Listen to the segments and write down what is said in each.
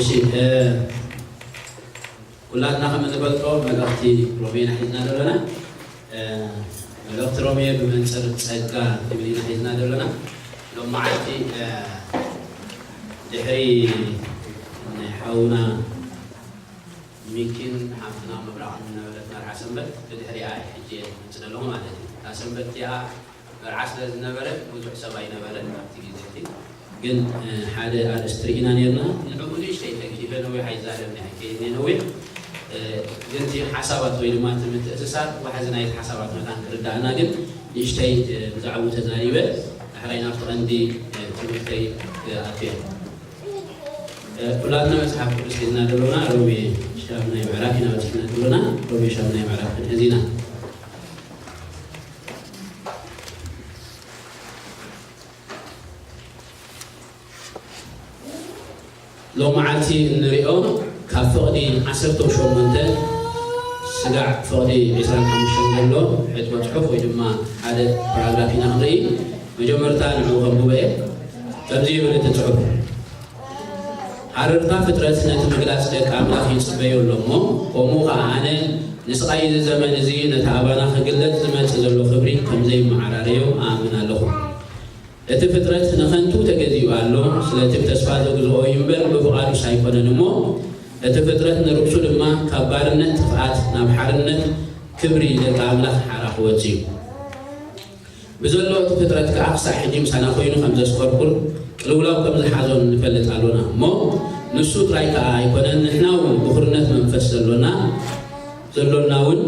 እሺ ኩላትና ከም እንፈልጦ መልእኽቲ ሮሜ ኢና ሒዝና ዘሎና። መልእኽቲ ሮሜ ብመንጽር ጸጋ ንብል ኢና ሒዝና ዘሎና። ሎም መዓልቲ ድሕሪ ናይ ሓውና ሚኪን ሓፍትና ምብራቕን ዝነበረት መርዓ ሰንበት ብድሕሪኣ እየ ሕጂ እየ ዝመጽእ ዘለኹ ማለት እዩ። እታ ሰንበት እቲኣ መርዓ ስለ ዝነበረት ብዙሕ ሰብ ኣይነበረን ኣብቲ ግዜ እቲ ግን ሓደ ኣርእስቲ ርኢና ኔርና ንዕኡ ንእሽተይ ተንኪፈ ነዊሕ ኣይዛረብን እየ ከይድ ነዊሕ ግን እቲ ሓሳባት ወይ ድማ እቲ ምትእስሳር ዋሕዚ ናይቲ ሓሳባት መታን ክርዳኣና ግን ንእሽተይ ብዛዕብኡ ተዛሪበ ዳሕራይ ናብቲ ቀንዲ ትምህርተይ ክኣቱየ ኩላትና መጽሓፍ ቅዱስ ሒዝና ደሎና ሮሜ ሻምናይ ምዕራፍ ኢና በጺሕና ደሎና ሮሜ ሻምናይ ምዕራፍ ክንሕዝ ኢና ሎምዓልቲ እንሪኦ ካብ ፍቕዲ ዓሰርተው ሸሞንተ ስጋዕ ፍቕዲ ዕስራን ሓሙሽተን ዘሎ ሕጥቦ ፅሑፍ ወይ ድማ ሓደ ፓራግራፍ ኢና ክንርኢ። መጀመርታ ንዑ ከንብቦ እየ። ከምዚ ይብል እቲ ፅሑፍ። ሃረርታ ፍጥረት ነቲ ምግላጽ ደቂ ኣምላኽ ይጽበዮ ኣሎ እሞ፣ ከምኡ ኸኣ ኣነ ንስቓይ እዚ ዘመን እዚ ነቲ ኣባና ክግለጽ ዝመጽእ ዘሎ ክብሪ ከም ዘይመዓራረዮ እኣምን ኣለኹ። እቲ ፍጥረት ንኸንቱ ተገዚኡ ኣሎ፣ ስለቲ ብተስፋ ዘግዝኦ እዩ እምበር ብፍቓዱስ ኣይኰነን እሞ፣ እቲ ፍጥረት ንርእሱ ድማ ካብ ባርነት ጥፍኣት ናብ ሓርነት ክብሪ ደቂ ኣምላኽ ሓራ ክወጽእ እዩ። ብዘሎ እቲ ፍጥረት ከኣ ክሳዕ ሕጂ ምሳና ኮይኑ ከም ዘስፈርኩን ቅልውላው ከም ዝሓዞን ንፈልጥ ኣሎና እሞ ንሱ ጥራይ ከኣ ኣይኮነን ንሕና እውን ብኹርነት መንፈስ ዘሎና ዘሎና እውን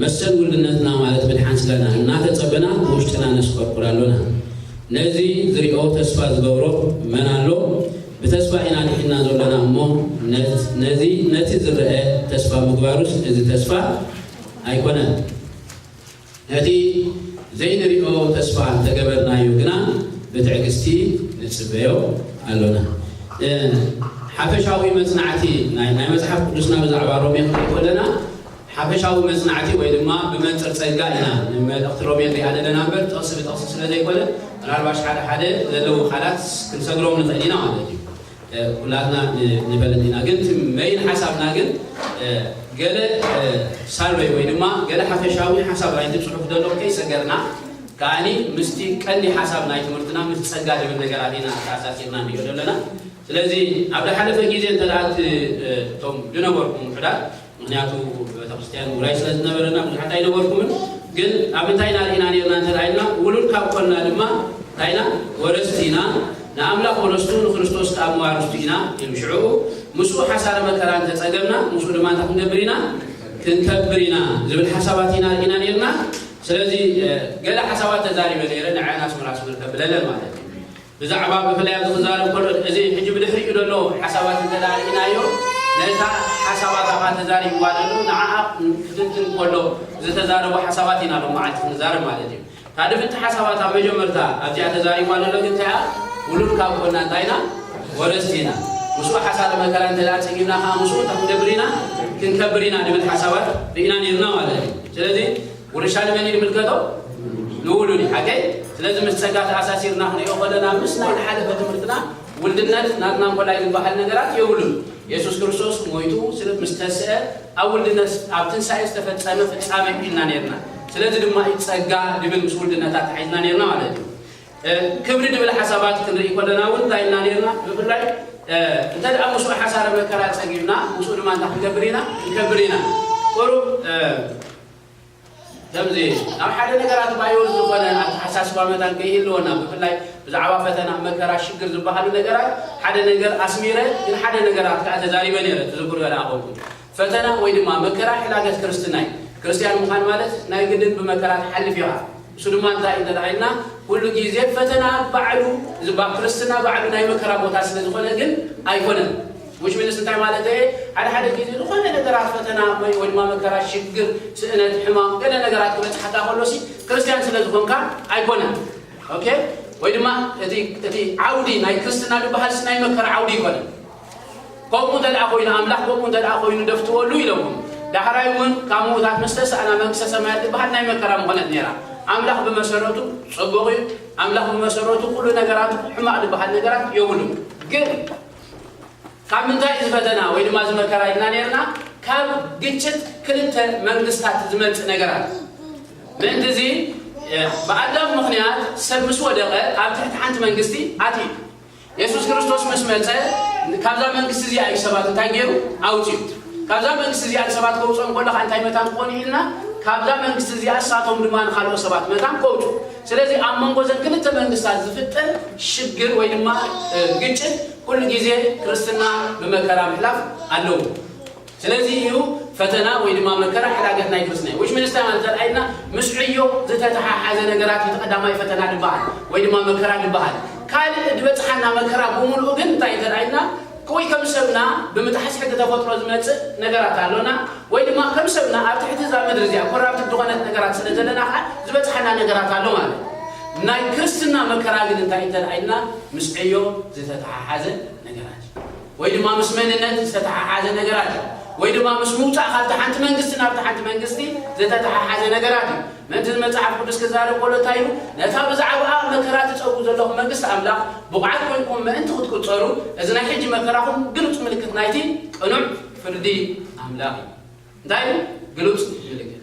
መሰል ውልድነትና ማለት ምድሓን ስጋና እናተጸበና ብውሽጥና ነስፈርኩር ኣሎና ነዚ ዝሪኦ ተስፋ ዝገብሮ መን ኣሎ ብተስፋ ኢና ድሒና ዘሎና እሞ ነዚ ነቲ ዝረአ ተስፋ ምግባሩስ እዚ ተስፋ ኣይኮነን። ነቲ ዘይንሪኦ ተስፋ እንተገበርናዮ ግና ብትዕግስቲ ንጽበዮ ኣሎና። ንሓፈሻዊ መጽናዕቲ ናይ ናይ መጽሓፍ ቅዱስና ብዛዕባ ሮሜ ክንርኢ ከለና ሓፈሻዊ መጽናዕቲ ወይ ድማ ብመንጽር ጸጋ ኢና ንመልእኽቲ ሮሜ ንሪኣ ዘለና እምበር ጥቕሲ ብጥቕሲ ስለ ዘይኮነ ምናልባሽ ሓደ ሓደ ዘለዉ ቃላት ክንሰግሮም ንኽእል ኢና ማለት እዩ። ኩላትና ንበልል ኢና ግን እቲ መይን ሓሳብና ግን ገለ ሳርበይ ወይ ድማ ገለ ሓፈሻዊ ሓሳብ ናይቲ ጽሑፍ ደሎ ከይሰገርና ከኣኒ ምስቲ ቀንዲ ሓሳብ ናይ ትምህርትና ምስ ጸጋ ዝብል ነገራት ኢና ተኣሳሲርና ንሪኦ ደለና ስለዚ ኣብ ዝሓለፈ ግዜ እንተ እቲ እቶም ዝነበርኩም ውሑዳት ምኽንያቱ ቤተክርስትያን ውራይ ስለ ዝነበረና ብዙሓት ኣይነበርኩምን ግን ኣብ እንታይ ኢና ርኢና ኔርና እንተ ኢልና ውሉድ ካብ ኮንና ድማ እንታይ ኢና ወረስቲ ኢና ንኣምላኽ ወረስቱ ንክርስቶስ ከኣ መዋርስቱ ኢና ኢሉ ሽዑኡ ምስኡ ሓሳረ መከራ እንተ ጸገምና ምስኡ ድማ እንታይ ክንገብር ኢና ክንከብር ኢና ዝብል ሓሳባት ኢና ርኢና ኔርና ስለዚ ገለ ሓሳባት ተዛሪበ ነይረ ንዓና ኣስመራ ኣስመር ከብለለን ማለት እዩ ብዛዕባ ብፍላይ ኣብዚ ክዛረብ ከሎ እዚ ሕጂ ብድሕሪኡ ዘሎ ሓሳባት እንተ ርኢናዮ ነታ ሓሳባት ኣፋ ተዛሪብዋ ዘሎ ንዓኣ ክትንትን ከሎ ዝተዛረቦ ሓሳባት ኢና ሎም መዓልቲ ክንዛረብ ማለት እዩ እታ ድምቲ ሓሳባት ኣብ መጀመርታ ኣብዚኣ ተዛሪብዋ ዘሎ ግን እንታይያ ውሉድ ካብ ኮና እንታይ ኢና ወረስቲ ኢና ምስኡ ሓሳረ መከራ እንተ ጸጊብና ከዓ ምስኡ እንታይ ክንገብር ኢና ክንከብር ኢና ድብል ሓሳባት ርኢና ነርና ማለት እዩ ስለዚ ውርሻ ንመን እዩ ዝምልከቶ? ንውሉድ እዩ። ሓቀይ? ስለዚ ምስ ጸጋ ተኣሳሲርና ክንሪኦ ከለና ምስ ናይ ዝሓለፈ ትምህርትና ውልድነት ናትና እንኮላይ ዝበሃል ነገራት የብሉን። የሱስ ክርስቶስ ሞይቱ ስለ ምስ ተስአ ኣብ ውልድነት ኣብ ትንሳኤ ዝተፈጸመ ፍጻሜ ኢልና ኔርና። ስለዚ ድማ እዩ ጸጋ ዝብል ምስ ውልድነት ኣተሓሒዝና ኔርና ማለት እዩ። ክብሪ ዝብል ሓሳባት ክንርኢ ከለና እውን እንታይ ኢልና ኔርና? ብፍላይ እንተ ደኣ ምስኡ ሓሳረ መከራ ጸጊብና ምስኡ ድማ እንታይ ክንገብር ኢና? ንከብር ኢና። ቁሩብ ከምዚ ናብ ሓደ ነገራት ባዮል ዝኾነ ኣተሓሳስባ መታን ከይህልወና ብፍላይ ብዛዕባ ፈተና መከራ ሽግር ዝበሃሉ ነገራት ሓደ ነገር ኣስሚረ ግን ሓደ ነገራት ከኣ ተዛሪበ ነይረ ትዝክርዮ ደኣ ኮንኩም ፈተና ወይ ድማ መከራ ሕላገት ክርስትና እዩ ክርስትያን ምዃን ማለት ናይ ግድን ብመከራ ትሓልፍ ኢኻ እሱ ድማ እንታይ እንተ ደኣ ኢልና ኩሉ ግዜ ፈተና ባዕሉ እዚ ባ ክርስትና ባዕሉ ናይ መከራ ቦታ ስለ ዝኾነ ግን ኣይኮነን ዊች ሚንስ እንታይ ማለተይ እየ ሓደ ሓደ ግዜ ዝኾነ ነገራት ፈተና ወይ ወይ ድማ መከራ ሽግር ስእነት ሕማም ገለ ነገራት ክበጽሓካ ከሎ ሲ ክርስትያን ስለ ዝኾንካ ኣይኮነን ኦኬ ወይ ድማ እቲ እቲ ዓውዲ ናይ ክርስትና ዝበሃል ሲ ናይ መከራ ዓውዲ ይኮነ ከምኡ እንተ ደኣ ኮይኑ ኣምላኽ ከምኡ እንተ ደኣ ኮይኑ ደፍትወሉ ኢለኩም ዳሕራይ እውን ካብ ምዉታት ምስ ተሳእና መንግስተ ሰማያት ዝበሃል ናይ መከራ ምኾነት ነይራ ኣምላኽ ብመሰረቱ ጽቡቕ እዩ ኣምላኽ ብመሰረቱ ኩሉ ነገራቱ ሕማቕ ዝበሃል ነገራት የብሉን ግን ካብ ምንታይ እዚ ፈተና ወይ ድማ እዚ መከራ ኢልና ነርና ካብ ግጭት ክልተ መንግስታት ዝመጽእ ነገራት ምእንቲ እዚ ብኣዳም ምክንያት ሰብ ምስ ወደቀ ኣብ ትሕቲ ሓንቲ መንግስቲ ኣትዩ የሱስ ክርስቶስ ምስ መጸ ካብዛ መንግስቲ እዚኣ እዩ ሰባት እንታይ ገይሩ ኣውፅዩ ካብዛ መንግስቲ እዚኣ ንሰባት ከውፅኦም ከሎ ከዓ እንታይ መታን ክኾኑ ኢልና ካብዛ መንግስቲ እዚኣ እሳቶም ድማ ንካልኦ ሰባት መታን ከውፁ ስለዚ ኣብ መንጎ እዘን ክልተ መንግስታት ዝፍጠር ሽግር ወይ ድማ ግጭት ኩሉ ግዜ ክርስትና ብመከራ ምሕላፍ ኣለዎ። ስለዚ እዩ ፈተና ወይ ድማ መከራ ሕላገት ናይ ክርስትና እዩ። ዊችሚንስታይን እንተርኣይና ምስ ዕዮ ዝተተሓሓዘ ነገራት እዩ ተቐዳማይ ፈተና ድበሃል ወይ ድማ መከራ ድበሃል። ካልእ ድበጽሓና መከራ ብምሉኡ ግን እንታይ እንተርኣይና ወይ ከም ሰብና ብምጥሓስ ሕጊ ተፈጥሮ ዝመጽእ ነገራት ኣሎና ወይ ድማ ከም ሰብና ኣብ ትሕቲ እዛ ምድሪ እዚኣ ኮራፕትድ ዝኾነት ነገራት ስለ ዘለና ከኣ ዝበጽሓና ነገራት ኣሎ ማለት እዩ። ናይ ክርስትና መከራ ግን እንታይ እዩ እንተ ኢልና ምስ ዕዮ ዝተተሓሓዘ ነገራት እዩ። ወይ ድማ ምስ መንነት ዝተተሓሓዘ ነገራት እዩ። ወይ ድማ ምስ ምውጻእ ካብቲ ሓንቲ መንግስቲ ናብቲ ሓንቲ መንግስቲ ዝተተሓሓዘ ነገራት እዩ። ምእንቲ መጽሓፍ ቅዱስ ክዛረብ ከሎ እንታይ ኢሉ? ነታ ብዛዕባኣ መከራ ትጸብኡ ዘለኹም መንግስቲ ኣምላኽ ብቑዓት ኰይንኩም ምእንቲ ክትቍጸሩ፣ እዚ ናይ ሕጂ መከራኹም ግሉጽ ምልክት ናይቲ ቅኑዕ ፍርዲ ኣምላኽ እዩ። እንታይ እዩ? ግሉጽ ምልክት።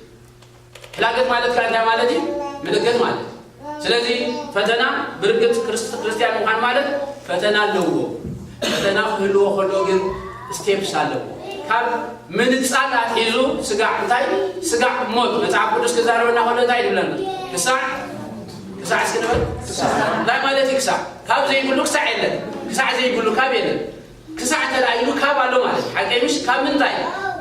ሕላገት ማለት ከኣ እንታይ ማለት እዩ? ምልክት ማለት እዩ። ስለዚ ፈተና ብርግጽ ክርስት ክርስትያን ምዃን ማለት ፈተና ኣለዎ። ፈተና ክህልዎ ከሎ ግን ስቴፕስ ኣለዎ። ካብ ምንጻል ኣትሒዙ ስጋዕ እንታይ ስጋዕ ሞት መጽሓፍ ቅዱስ ክዛረበና ከሎ እንታይ ይብለና ክሳዕ ክሳዕ እስኪ ንበል እንታይ ማለት እዩ ክሳዕ ካብ ዘይብሉ ክሳዕ የለን ክሳዕ ዘይብሉ ካብ የለን ክሳዕ እንተ ኢሉ ካብ ኣሎ ማለት ሓቀይ ምሽ ካብ ምንታይ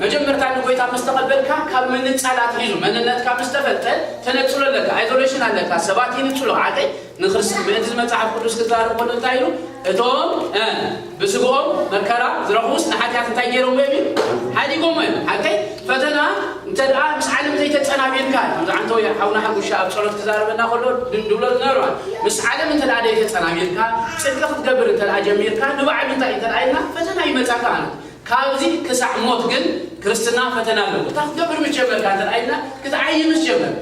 መጀመርታ ንጎይታ ምስ ተቐበልካ ካብ ምንጻል ኣትሒዙ መንነትካ ምስ ተፈልጠ ተነጽሎ ኣለካ ኣይዞሌሽን ኣለካ ሰባት ይንጽሉ ሓቀይ ንክርስቲ ምእንቲ መጽሓፍ ቅዱስ ክዛረብ ከሎ እንታይ ኢሉ እቶም እ ብስግኦም መከራ ዝረኽቡስ ንሓጢኣት እንታይ ገይሮምዎ እዮም ኢሉ ሓዲጎምዎ እዮም ሓቀይ ፈተና እንተ ደኣ ምስ ዓለም ዘይተጸናቢርካ ከምዚ ዓንተው ሓውና ሓሙሻ ኣብ ጸሎት ክዛረበና ከሎ ድብሎ ዝነበረዋል ምስ ዓለም እንተ ደኣ ዘይተጸናቢርካ ጽድቂ ክትገብር እንተ ደኣ ጀሚርካ ንባዕሉ እንታይ እንተ ደኣ ኢልና ፈተና ይመጻካ ኣሎ ካብዚ ክሳዕ ሞት ግን ክርስትና ፈተና ኣለዎ እታ ክትገብር ምስ ጀመርካ እንተ ደኣ ኢልና ክትዓይ ምስ ጀመርካ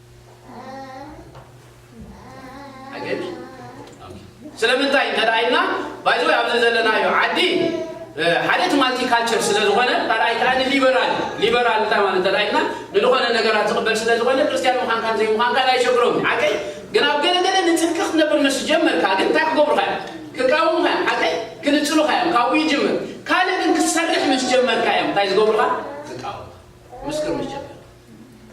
ኣገቢ ስለምንታይ እንተ ኢልና ባይዘ ኣብዚ ዘለናዮ ዓዲ ሓደ እቲ ማልቲ ካልቸር ስለ ዝኾነ ካልኣይ ከዓ ንሊበራል ሊበራል እንታይ ማለት እንተ ኢልና ንዝኾነ ነገራት ዝቕበል ስለ ዝኾነ ክርስትያን ምዃንካን ዘይምዃንካን ኣይሸግሮም ሓቀይ ግን ኣብ ገለገለ ንፅድቂ ክትነብር ምስ ጀመርካ ግን እንታይ ክገብሩካ እዮም ክቃወሙካ እዮም ሓቀይ ክንፅሉካ እዮም ካብኡ ይጅምር ካልእ ግን ክትሰርሕ ምስ ጀመርካ እዮም እንታይ ዝገብሩካ ክቃወሙካ ምስክር ምስ ጀመርካ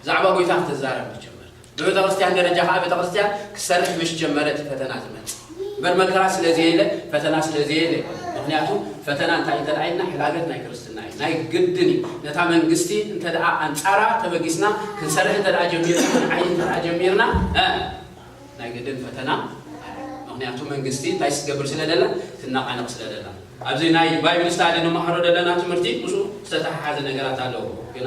ብዛዕባ ጐይታ ክትዛረብ ምስ ጀመርካ፣ ብቤተ ክርስትያን ደረጃ ከኣ ቤተ ክርስትያን ክትሰርሕ ምስ ጀመረ እቲ ፈተና ዝመጽእ እምበር መከራ ስለ ዘየለ ፈተና ስለ ዘየለ ኣይኮነን። ምኽንያቱ ፈተና እንታይ እንተድኣ ኢልና ሕላገት ናይ ክርስትና እዩ። ናይ ግድን እዩ። ነታ መንግስቲ እንተድኣ ኣንጻራ ተበጊስና ክንሰርሕ እንተድኣ ጀሚርና ክንዓይ እንተድኣ ጀሚርና እ ናይ ግድን ፈተና ኣሎ። ምኽንያቱ መንግስቲ እንታይ ክትገብር ስለ ደላ ትነቓነቕ ስለ ደላ ኣብዚ ናይ ባይብል ስታዲ ንመሃሮ ዘለና ትምህርቲ ምስኡ ዝተተሓሓዘ ነገራት ኣለዎ ግና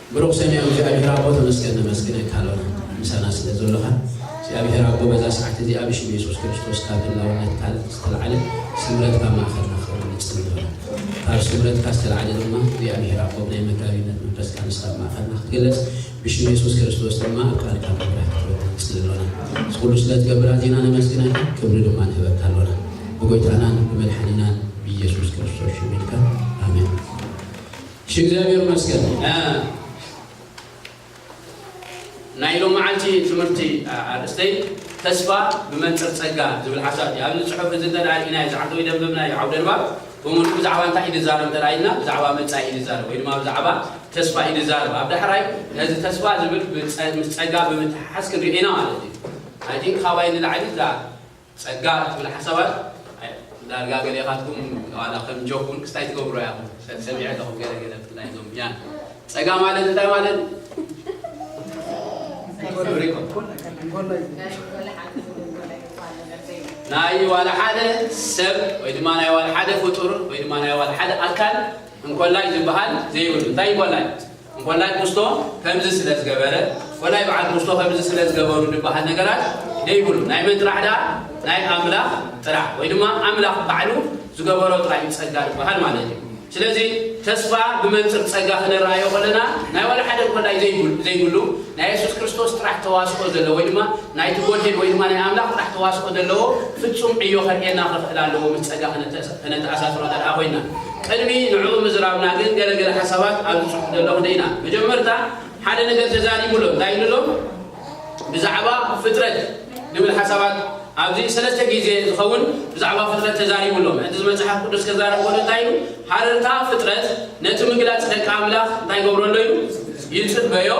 ብሩኽ ሰማያዊ እግዚኣብሄር ኣቦ ተመስገን ነመስግነካ ኣሎና ምሳና ስለ ዘሎኻ እግዚኣብሄር ኣቦ በዛ ሰዓት እዚኣ ብሽም የሱስ ክርስቶስ ካብ ህላውነት ቃል ዝተላዕለ ስምረትካ ኣብ ማእኸልና ክኸውን ንጽሊ ኣሎና ካብ ስምረትካ ዝተላዕለ ድማ እግዚኣብሄር ኣቦ ብናይ መጋቢነት መንፈስካ ንስኻ ኣብ ማእኸልና ክትግለጽ ብሽም የሱስ ክርስቶስ ድማ ኣብ ቃልካ ምብራህ ክህበካ ንጽሊ ኣሎና እዚ ኩሉ ስለ ትገብር ኣዚና ነመስግነካ ክብሪ ድማ ንህበካ ኣሎና ብጎይታናን ብመድሓኒናን ብየሱስ ክርስቶስ ሽም ኢልካ ኣሜን። እሺ እግዚኣብሔር ይመስገን ናይ ሎምዓልቲ ትምህርቲ ኣርእስተይ ተስፋ ብመንፅር ፀጋ ዝብል ሓሳብ እዩ ኣብዚ ፅሑፍ እዚ እንተ ርኢናዮ ዝዓተው ደንብብናዮ ዓውደ ንባብ ብምሉእ ብዛዕባ እንታይ እዩ ዝዛረብ እንተ ኢልና ብዛዕባ መፃኢ እዩ ዝዛረብ ወይ ድማ ብዛዕባ ተስፋ እዩ ዝዛረብ ኣብ ዳሕራይ ነዚ ተስፋ ዝብል ምስ ፀጋ ብምትሓሓዝ ክንሪኦ ኢና ማለት እዩ ኣይ ቲንክ ካባይ ንላዕሊ እዛ ጸጋ እትብል ሓሳባት ዳርጋ ገሌኻትኩም ዋላ ከም ጆክ ውን ክስታይ ትገብሮ ኢኹም ሰብ ሰሚዐ ኣለኹ ገለ ገለ ብፍላይ እዞም ያን ጸጋ ማለት እንታይ ማለት ናይ ዋላ ሓደ ሰብ ወይ ድማ ናይ ዋላ ሓደ ፍጡር ወይ ድማ ናይ ዋላ ሓደ ኣካል እንኮላይ ዝበሃል ዘይብሉ እንታይ እንኮላይ እንኮላይ ክርስቶ ከምዚ ስለ ዝገበረ ኮላይ በዓል ክርስቶ ከምዚ ስለ ዝገበሩ ድበሃል ነገራት ደይብሉን። ናይ መን ጥራሕ ደኣ? ናይ ኣምላኽ ጥራሕ ወይ ድማ ኣምላኽ ባዕሉ ዝገበሮ ጥራሕ እዩ ጸጋ ድበሃል ማለት እዩ። ስለዚ ተስፋ ብመንጽር ጸጋ ክነረኣዮ ከለና ናይ ዋላ ሓደ እንኮላይ ዘይብሉ ናይ የሱስ ክርስቶስ ጥራሕ ተዋስኦ ዘለዎ ወይ ድማ ናይቲ ጎድሄድ ወይ ድማ ናይ ኣምላኽ ጥራሕ ተዋስኦ ዘለዎ ፍጹም ዕዮ ከርእየና ከኽእል ኣለዎ ምስ ጸጋ ከነተኣሳስሮ ደኣ ኮይና፣ ቅድሚ ንዕኡ ምዝራብና ግን ገለ ገለ ሓሳባት ኣብዚ ጽሑፍ ዘሎ ክንርኢና። መጀመርታ ሓደ ነገር ተዛሪቡ ኣሎ። እንታይ ኢሉ ኣሎ? ብዛዕባ ፍጥረት ንብል ሓሳባት ኣብዚ ሰለስተ ግዜ ዝኸውን ብዛዕባ ፍጥረት ተዛሪቡ ኣሎ። ምእንቲ እዚ መጽሓፍ ቅዱስ ከዛረብ ከሎ እንታይ ኢሉ? ሃረርታ ፍጥረት ነቲ ምግላጽ ደቂ ኣምላኽ እንታይ ይገብሮ ኣሎ ኢሉ? ይጽበዮ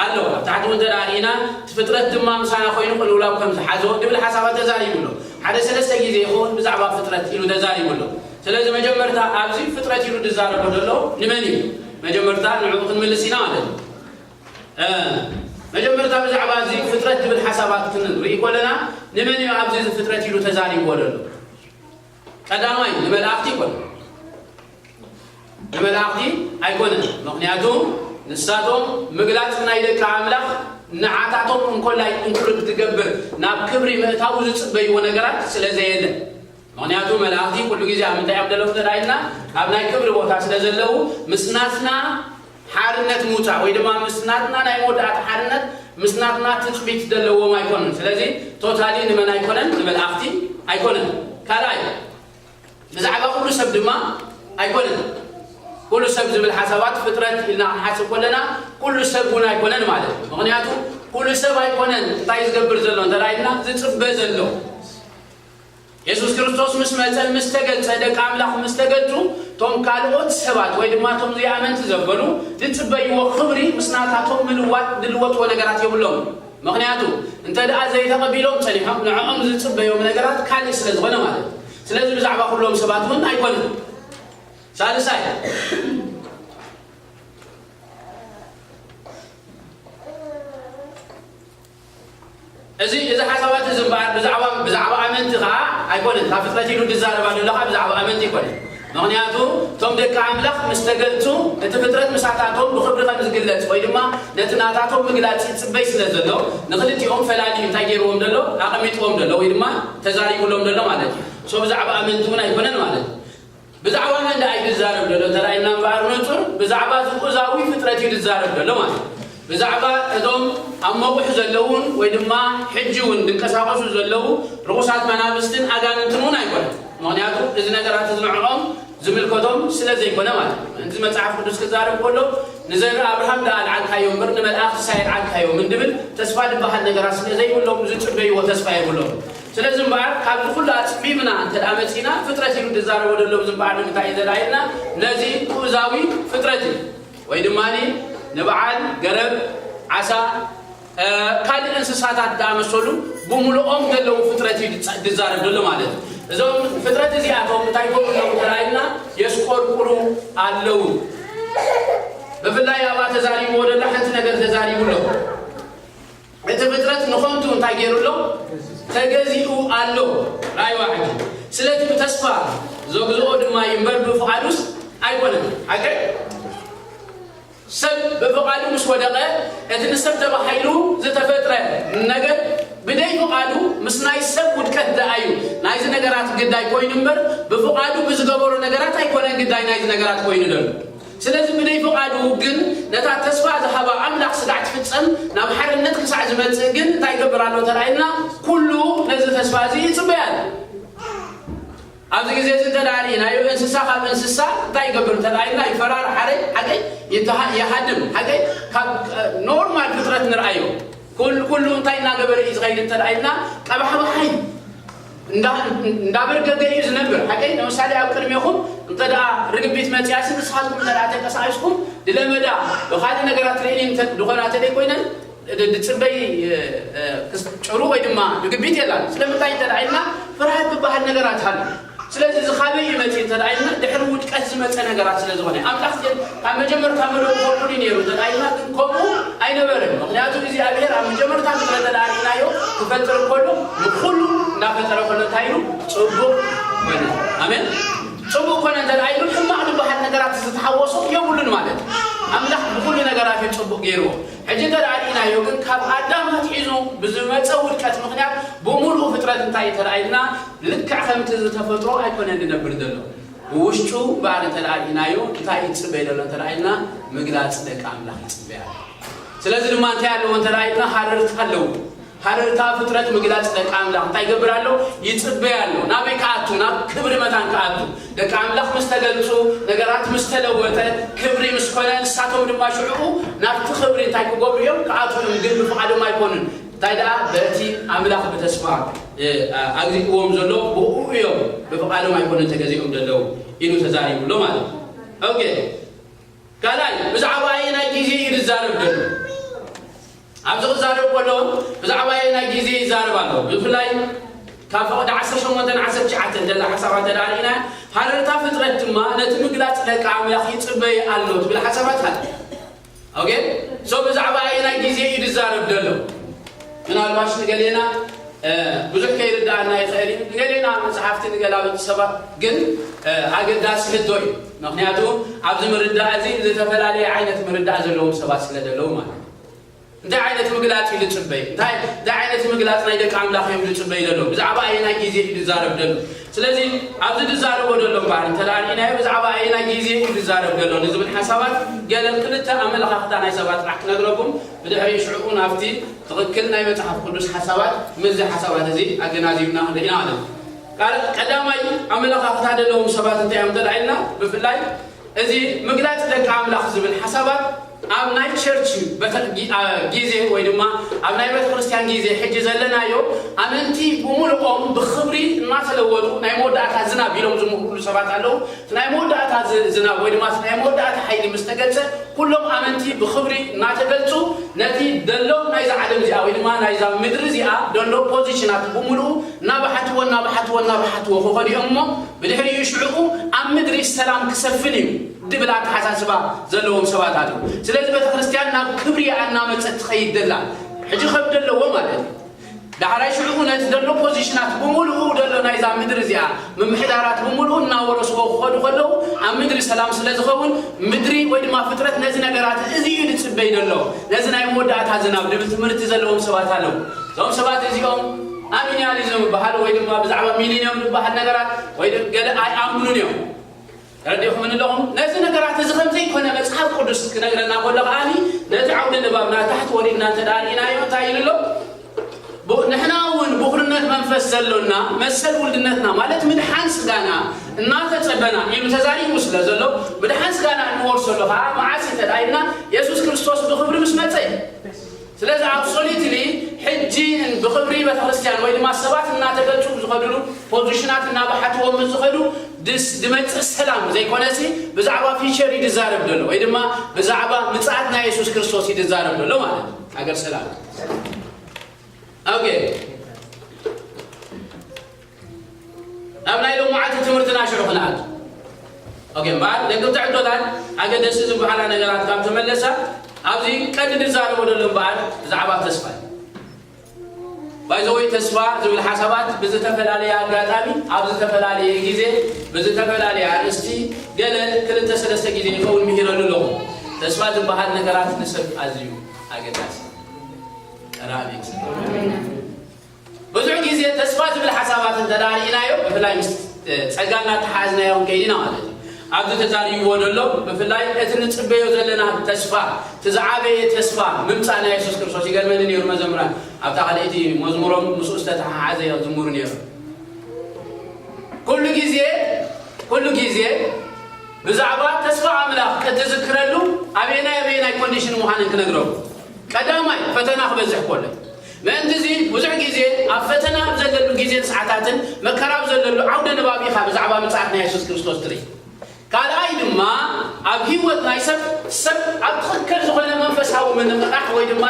ኣሎ። ኣብ ታሕቲ እውን እንተ ርኢና እቲ ፍጥረት ድማ ምሳና ኮይኑ ቅልውላው ከም ዝሓዞ ንብል ሓሳባት ተዛሪቡ ኣሎ። ሓደ ሰለስተ ግዜ ይኸውን ብዛዕባ ፍጥረት ኢሉ ተዛሪቡ ኣሎ። ስለዚ መጀመርታ ኣብዚ ፍጥረት ኢሉ ዝዛረቦ ዘሎ ንመን እዩ? መጀመርታ ንዕኡ ክንምልስ ኢና ማለት እዩ። መጀመርታ ብዛዕባ እዚ ፍጥረት ዝብል ሓሳባት ክንርኢ ኮለና ንመን እዩ ኣብዚ ፍጥረት ኢሉ ተዛሪብዎ ዘሎ? ቀዳማይ ንመላእኽቲ ይኮን። ንመላእኽቲ ኣይኮነን ምኽንያቱ ንሳቶም ምግላጽ ናይ ደቂ ኣምላኽ ንዓታቶም እንኮላይ እንክሪ ክትገብር ናብ ክብሪ ምእታዉ ዝጽበይዎ ነገራት ስለ ዘየለ ምኽንያቱ መላእኽቲ ኩሉ ግዜ ኣብ ምንታይ እዮም ደለዉ እንተ ኢልና ኣብ ናይ ክብሪ ቦታ ስለ ዘለዉ ምስ ናትና ሓርነት ምውጻእ ወይ ድማ ምስ ናትና ናይ መወዳእታ ሓርነት ምስ ናትና ትጽቢት ዘለዎም ኣይኮኑን ስለዚ ቶታሊ ንመን ኣይኮነን ንመላእኽቲ ኣይኮነን ካልኣይ ብዛዕባ ኩሉ ሰብ ድማ ኣይኮነን። ኩሉ ሰብ ዝብል ሓሳባት ፍጥረት ኢልና ክንሓስብ ከለና ኩሉ ሰብ እውን ኣይኮነን ማለት እዩ። ምኽንያቱ ኩሉ ሰብ ኣይኮነን እንታይ እዩ ዝገብር ዘሎ እንተ ኢልና ዝጽበ ዘሎ የሱስ ክርስቶስ ምስ መጸን ምስ ተገልጸ ደቂ ኣምላኽ ምስ ተገልጹ እቶም ካልኦት ሰባት ወይ ድማ እቶም ዘይኣመንቲ ዘበሉ ዝጽበይዎ ክብሪ ምስ ናታቶም ምልዋጥ ዝልወጥዎ ነገራት የብሎም። ምኽንያቱ እንተድኣ ዘይተቐቢሎም ጸኒሖም ንዕኦም ዝጽበዮም ነገራት ካልእ ስለ ዝኾነ ማለት እዩ። ስለዚ ብዛዕባ ኩሎም ሰባት እውን ኣይኮነን። ሳልሳይ እዚ እዚ ሓሳባት እዚ እምበኣር ብዛዕባ ብዛዕባ ኣመንቲ ከዓ ኣይኮነን ካብ ፍጥረት ኢሉ ዝዛረብ ኣሎ ከዓ ብዛዕባ ኣመንቲ ኣይኮነን ምኽንያቱ እቶም ደቂ ኣምላኽ ምስ ተገልጹ እቲ ፍጥረት ምሳታቶም ብኽብሪ ከም ዝግለጽ ወይ ድማ ነቲ ናታቶም ምግላጽ ይጽበይ ስለ ዘሎ ንኽልቲኦም ፈላልዩ እንታይ ጌርዎም ዶ ኣሎ ኣቐሚጥዎም ዶ ኣሎ ወይ ድማ ተዛሪቡሎም ዶ ኣሎ ማለት እዩ። so ብዛዕባ ኣመንቲ ውን ኣይኮነን ማለት እዩ። ብዛዕባ መን ደኣ እዩ ዝዛረብ ዘሎ ተራእየና እምበኣር ንጹር ብዛዕባ እዚ ቁዛዊ ፍጥረት እዩ ዝዛረብ ዘሎ ማለት እዩ። ብዛዕባ እቶም ኣብ መቝሕ ዘለዉን ወይ ድማ ሕጂ እውን ድንቀሳቐሱ ዘለዉ ርኹሳት መናፍስትን ኣጋንንትን እውን ኣይኰነን፣ ምኽንያቱ እዚ ነገራት እዚ ንዕኦም ዚምልከቶም ስለ ዘይኰነ ማለት እዩ። ምእንቲ መጽሓፍ ቅዱስ ኪዛረብ ከሎ ንዘርኢ ኣብርሃም ደኣ ኣልዓልካዮ እምበር ንመላእኽትስ ኣየልዓልካዮምን እንዲብል ተስፋ ድበሃል ነገራት ስለ ዘይብሎም ዚጽበይዎ ተስፋ የብሎምን። ስለዚ እምበኣር ካብዚ ዅሉ ኣጽቢብና እንተ ደኣ መጺእና ፍጥረት ኢሉ ድዛረቦ ደሎ ብዚ እምበኣር ንምንታይ እዩ ደላዪልና ነዚ ግኡዛዊ ፍጥረት እዩ። ወይ ድማ ንበዓል ገረብ፣ ዓሳ፣ ካልእ እንስሳታት ዝኣመሰሉ ብምሉኦም ዘለዉ ፍጥረት እዩ ዝዛረብ ዘሎ ማለት እዩ። እዞም ፍጥረት እዚኣቶም እንታይ ይገብሩ ኣለዉ እንተረኣኢልና የስቆርቁሩ ኣለዉ። ብፍላይ ኣብኣ ተዛሪብዎ ዘሎ ሓንቲ ነገር ተዛሪቡ ኣሎ። እቲ ፍጥረት ንኸንቱ እንታይ ገይሩ ኣሎ? ተገዚኡ ኣሎ። ራእይዋ ሕጂ። ስለቲ ብተስፋ ዘግዝኦ ድማ እዩ እምበር ብፍቓዱስ ኣይኮነን። ሓቀይ? ሰብ ብፍቓዱ ምስ ወደቐ እቲ ንሰብ ተባሂሉ ዝተፈጥረ ነገር ብደይ ፍቓዱ ምስ ናይ ሰብ ውድቀት ደኣ እዩ ናይዚ ነገራት ግዳይ ኮይኑ እምበር ብፍቓዱ ብዝገበሮ ነገራት ኣይኮነን ግዳይ ናይዚ ነገራት ኮይኑ ደሎ ስለዚ ብደይ ፍቓዱ ግን ነታ ተስፋ ዝሃባ ኣምላኽ ስጋዕ ትፍጸም ናብ ሓርነት ክሳዕ ዝመጽእ ግን እንታይ ይገብር ኣሎ ተራኢልና ኩሉ ነዚ ተስፋ እዚ ይጽበይ ኣሎ ኣብዚ ግዜ እዚ እንተ ርኢናዮ እንስሳ ካብ እንስሳ እንታይ ይገብር እንተ ኢልና ይፈራር ሓረይ ሓገይ ይሃድም ሓገይ ካብ ኖርማል ፍጥረት ንርኣዮ ኩሉ እንታይ እናገበረ እዩ ዝኸይድ እንተ ኢልና ቀባሕባሓይ እንዳበርገገ እዩ ዝነብር ሓቀይ ነምሳሌ ኣብ ቅድሜኹም እንተ ርግቢት መጺኣሲ ንስኻትኩም እንተ ተንቀሳቂስኩም ድለመዳ ብኻልእ ነገራት ትርእኒ ድኾና ተደይ ኮይነን ድጽበይ ጭሩ ወይ ድማ ርግቢት የላን ስለምንታይ እንተ ኢልና ፍርሃት ዝበሃል ነገራት ሃሉ ስለዚ ዝኻበይ እዩ መጺ እንተ ኢልና ድሕሪ ውድቀት ዝመጸ ነገራት ስለ ዝኾነ ኣምላኽ ኣብ መጀመርታ ምሉእ ኰንኩ ድዩ ነይሩ ተላኢልና? ግን ከምኡ ኣይነበረን። ምኽንያቱ እግዚኣብሄር ኣብ መጀመርታ ንጥረ ተላኢልናዮ ክፈጥር እንከሎ ንኹሉ እናፈጠረ ከሎ እንታይ ኢሉ? ጽቡቕ ኰነ። ኣሜን። ጽቡቕ ኰነ እንተድኣ ኢሉ ሕማቕ ድበሃል ነገራት ዝተሓወሶ የብሉን ማለት እዩ። ኣምላኽ ብኹሉ ነገራት እዩ ጽቡቕ ገይርዎ። ሕጂ እንተድኣ ርኢናዮ ግን ካብ ኣዳም ኣትሒዙ ብዝመጸ ውድቀት ምኽንያት ብምሉኡ ፍጥረት እንታይ እዩ ተላኢልና? ልክዕ ከምቲ ዝተፈጥሮ ኣይኰነን ዝነብር ዘሎ። ብውሽጡ ባር እንተ ርኢናዮ እንታይ እዩ ዝጽበይ ዘሎ እንተ ኢልና ምግላጽ ደቂ ኣምላኽ ይጽበይ ኣሎ። ስለዚ ድማ እንታይ ኣለዎ እንተ ኢልና ሃረርታ ኣለዎ። ሃረርታ ፍጥረት ምግላጽ ደቂ ኣምላኽ እንታይ ይገብር ኣሎ? ይጽበይ ኣሎ። ናበይ ክኣቱ? ናብ ክብሪ መታን ክኣቱ። ደቂ ኣምላኽ ምስ ተገልጹ፣ ነገራት ምስ ተለወጠ፣ ክብሪ ምስ ኮነ፣ ንሳቶም ድማ ሽዑኡ ናብቲ ክብሪ እንታይ ክገብሩ እዮም? ክኣትዉ እዮም። ግን ብፍቓዶም ኣይኮኑን። እንታይ ደኣ በቲ ኣምላኽ ብተስፋ ኣግሪእዎም ዘሎ ብኡኡ እዮም ብፍቃዶም ኣይኮነን ተገዚኦም ደለው ኢሉ ተዛሪቡ ኣሎ ማለት እዩ ኦኬ ካልኣይ ብዛዕባ ኣየናይ ግዜ እዩ ዝዛረብ ደሎ ኣብዚ ክዛረብ ከሎ ብዛዕባ ኣየናይ ግዜ ይዛረብ ኣሎ ብፍላይ ካብ ፈቕዲ ዓሰርተ ሸሞንተን ዓሰርተ ትሽዓተን ዘላ ሓሳባት ተዳሪእና ሃረርታ ፍጥረት ድማ ነቲ ምግላፅ ደቂ ኣምላኽ ይፅበይ ኣሎ ትብል ሓሳባት ኣለ ኦኬ ሶ ብዛዕባ ኣየናይ ግዜ እዩ ዝዛረብ ዘሎ ምናልባሽ ንገሌና ብዙሕ ከይርድኣና ይኽእል እዩ ንገሌና መፅሓፍቲ ንገላበጥ ሰባት ግን ኣገዳሲ ሕቶ እዩ ምክንያቱ ኣብዚ ምርዳእ እዚ ዝተፈላለየ ዓይነት ምርዳእ ዘለዎም ሰባት ስለ ዘለዉ ማለት እዩ እንታይ ዓይነት ምግላፅ እዩ ዝፅበይ እንታይ ዓይነት ምግላፅ ናይ ደቂ ኣምላኽ እዮም ዝፅበይ ዘሎ ብዛዕባ ኣየናይ ግዜ እዩ ዝዛረብ ዘሎ ስለዚ ኣብዚ ዝዛረቦ ዘሎ እምበኣር እንተ ርኢናዮ ብዛዕባ ኣየናይ ግዜ እዩ ዝዛረብ ዘሎ ንዝብል ሓሳባት ገለ ክልተ ኣመለኻኽታ ናይ ሰባት ጥራሕ ክነግረኩም ብድሕሪኡ ሽዕኡ ናብቲ ትኽክል ናይ መጽሓፍ ቅዱስ ሓሳባት ምስዚ ሓሳባት እዚ ኣገናዚብና ክንርኢ ኢና ማለት እዩ። ቀዳማይ ኣመለኻኽታ ዘለዎም ሰባት እንታይ እዮም እንተ ኢልና ብፍላይ እዚ ምግላጽ ደቂ ኣምላኽ ዝብል ሓሳባት ኣብ ናይ ቸርች በተ ጊዜ ወይ ድማ ኣብ ናይ ቤተ ክርስቲያን ጊዜ ሕጂ ዘለናዮ ኣመንቲ ብምሉኦም ብኽብሪ እናተለወጡ ናይ መወዳእታ ዝናብ ኢሎም ዝምክሩሉ ሰባት ኣለዉ። እቲ ናይ መወዳእታ ዝናብ ወይ ድማ እቲ ናይ መወዳእታ ሓይሊ ምስ ተገልጸ ኩሎም ኣመንቲ ብኽብሪ እናተገልጹ ነቲ ደሎ ናይዛ ዓለም እዚኣ ወይ ድማ ናይዛ ምድሪ እዚኣ ደሎ ፖዚሽናት ብምሉኡ እናበሓትዎ እናበሓትዎ እናበሓትዎ ክኸዱ'ዮም እሞ ብድሕሪኡ ሽዕኡ ኣብ ምድሪ ሰላም ክሰፍን እዩ ድብል ኣተሓሳስባ ዘለዎም ሰባት ኣለዉ። ስለዚ ቤተክርስትያን ናብ ክብሪ እያ እናመጸት ትኸይድ ዘላ። ሕጂ ከም ደለዎ ማለት እዩ። ዳሕራይ ሽዕኡ ነቲ ዘሎ ፖዚሽናት ብምሉኡ ዘሎ ናይዛ ምድሪ እዚኣ ምምሕዳራት ብምሉኡ እናወረስዎ ክኸዱ ከለዉ ኣብ ምድሪ ሰላም ስለ ዝኸውን ምድሪ ወይ ድማ ፍጥረት ነዚ ነገራት እዚ እዩ ዝጽበይ ዘሎ። ነዚ ናይ መወዳእታ ዝናብ ድብል ትምህርቲ ዘለዎም ሰባት ኣለዉ። እዞም ሰባት እዚኦም ኣሚኒያሊዝም እብሃል ወይ ድማ ብዛዕባ ሚሊንዮም ድብሃል ነገራት ወይ ገለ ኣይኣምኑን እዮም። ተረዲእኹምኒ ኣለኹም? ነዚ ነገራት እዚ ከም ዘይኮነ መጽሓፍ ቅዱስ ክነግረና ከሎ ከኣ ነቲ ዓውደ ንባብ ናታሕቲ ወሪድና እንተ ደኣ ርኢናዮ እንታይ ኢሉ ኣሎ? ንሕና እውን ብኹርነት መንፈስ ዘሎና መሰል ውልድነትና ማለት ምድሓን ስጋና እናተጸበና ኢሉ ተዛሪቡ ስለ ዘሎ ምድሓን ስጋና እንወርሰሉ ከኣ መዓስ እዩ እንተ ደኣ ኢልና የሱስ ክርስቶስ ብኽብሪ ምስ መጸ እዩ። ስለዚ ኣብሶሉትሊ ሕጂ ን ብኽብሪ ቤተክርስትያን ወይ ድማ ሰባት እናተገልጹ ብዝኸድሉ ፖዙሽናት እናበሓትዎም ምስ ዝኸዱ ድስ ድመጽእ ሰላም ዘይኮነሲ ብዛዕባ ፊቸር እዩ ድዛረብ ደሎ ወይ ድማ ብዛዕባ ምጽኣት ናይ የሱስ ክርስቶስ እዩ ድዛረብ ደሎ ማለት እዩ ሃገር ሰላም ኦኬ ናብ ናይ ሎማዓንቲ ትምህርትና ሽዑ ክንኣቱ ኦኬ እምበኣር ደቅብቲ ሕቶታት ኣገደስቲ ዝበሃላ ነገራት ካብ ተመለሳ ኣብዚ ቀዲ ንዛረቦ ደሎ እምበኣር ብዛዕባ ተስፋ እዩ ባይዘወይ ተስፋ ዝብል ሓሳባት ብዝተፈላለየ ኣጋጣሚ ኣብ ዝተፈላለየ ግዜ ብዝተፈላለየ ኣርእስቲ ገለ ክልተ ሰለስተ ግዜ ይኸውን ምሂረሉ ኣለኹ ተስፋ ዝበሃል ነገራት ንሰብ ኣዝዩ ኣገዳሲ ቀራቢ ብዙሕ ግዜ ተስፋ ዝብል ሓሳባት እንተ ርኢናዮ ብፍላይ ምስ ጸጋ እናተሓሓዝናዮ ክንከይድ ኢና ማለት እዩ። ኣብዚ ተዛሪብዎ ዘሎ ብፍላይ እቲ ንጽበዮ ዘለና ተስፋ እቲ ዝዓበየ ተስፋ ምምጻእ ናይ የሱስ ክርስቶስ ይገርመኒ ነይሩ መዘምራን ኣብታ ካልኣይቲ መዝሙሮም ምስኡ ዝተተሓሓዘ እዮም ዝዝምሩ ነይሮም ኩሉ ግዜ ኩሉ ግዜ ብዛዕባ ተስፋ ኣምላኽ እትዝክረሉ ኣበየናይ ኣበየናይ ኮንዲሽን ምዃነን ክነግረው ቀዳማይ ፈተና ክበዝሕ ኮሎ ምእንት'ዚ ብዙሕ ግዜ ኣብ ፈተና ኣብ ዘለሉ ግዜን ሰዓታትን መከራ ኣብ ዘለሉ ዓውደ ንባብ ኢኻ ብዛዕባ ምጽኣት ናይ የሱስ ክርስቶስ ትርኢ። ካልኣይ ድማ ኣብ ህይወት ናይ ሰብ ሰብ ኣብ ትኽክል ዝኾነ መንፈሳዊ ምንቕቓሕ ወይ ድማ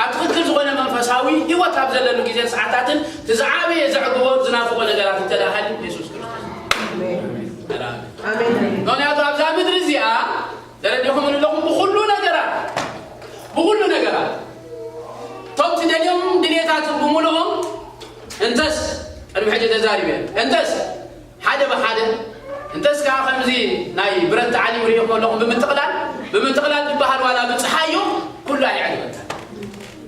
ኣብ ትኽክል ዝኾነ መንፈሳዊ ህይወት ኣብ ዘለሉ ግዜን ሰዓታትን እቲ ዝዓበየ ዘዕግቦን ዝናፍቖ ነገራት እንተድኣ ሃልዩ የሱስ ክርስቶስ እዩ። ኣሜን። ምኽንያቱ ኣብዛ ምድሪ እዚኣ ዘረዲኹምን ኣለኹም ብኹሉ ነገራት ብኹሉ ነገራት እቶም ትደልዮም ድሌታት ብምሉኦም እንተስ ቅድሚ ሕጂ ተዛሪበ እንተስ ሓደ ብሓደ እንተስ ከዓ ከምዚ ናይ ብረት ተዓሊም ርኢኹም ኣለኹም ብምጥቕላል ብምጥቕላል ዝበሃል ዋላ ብፅሓዮ ኩሉ ኣይዕግበካ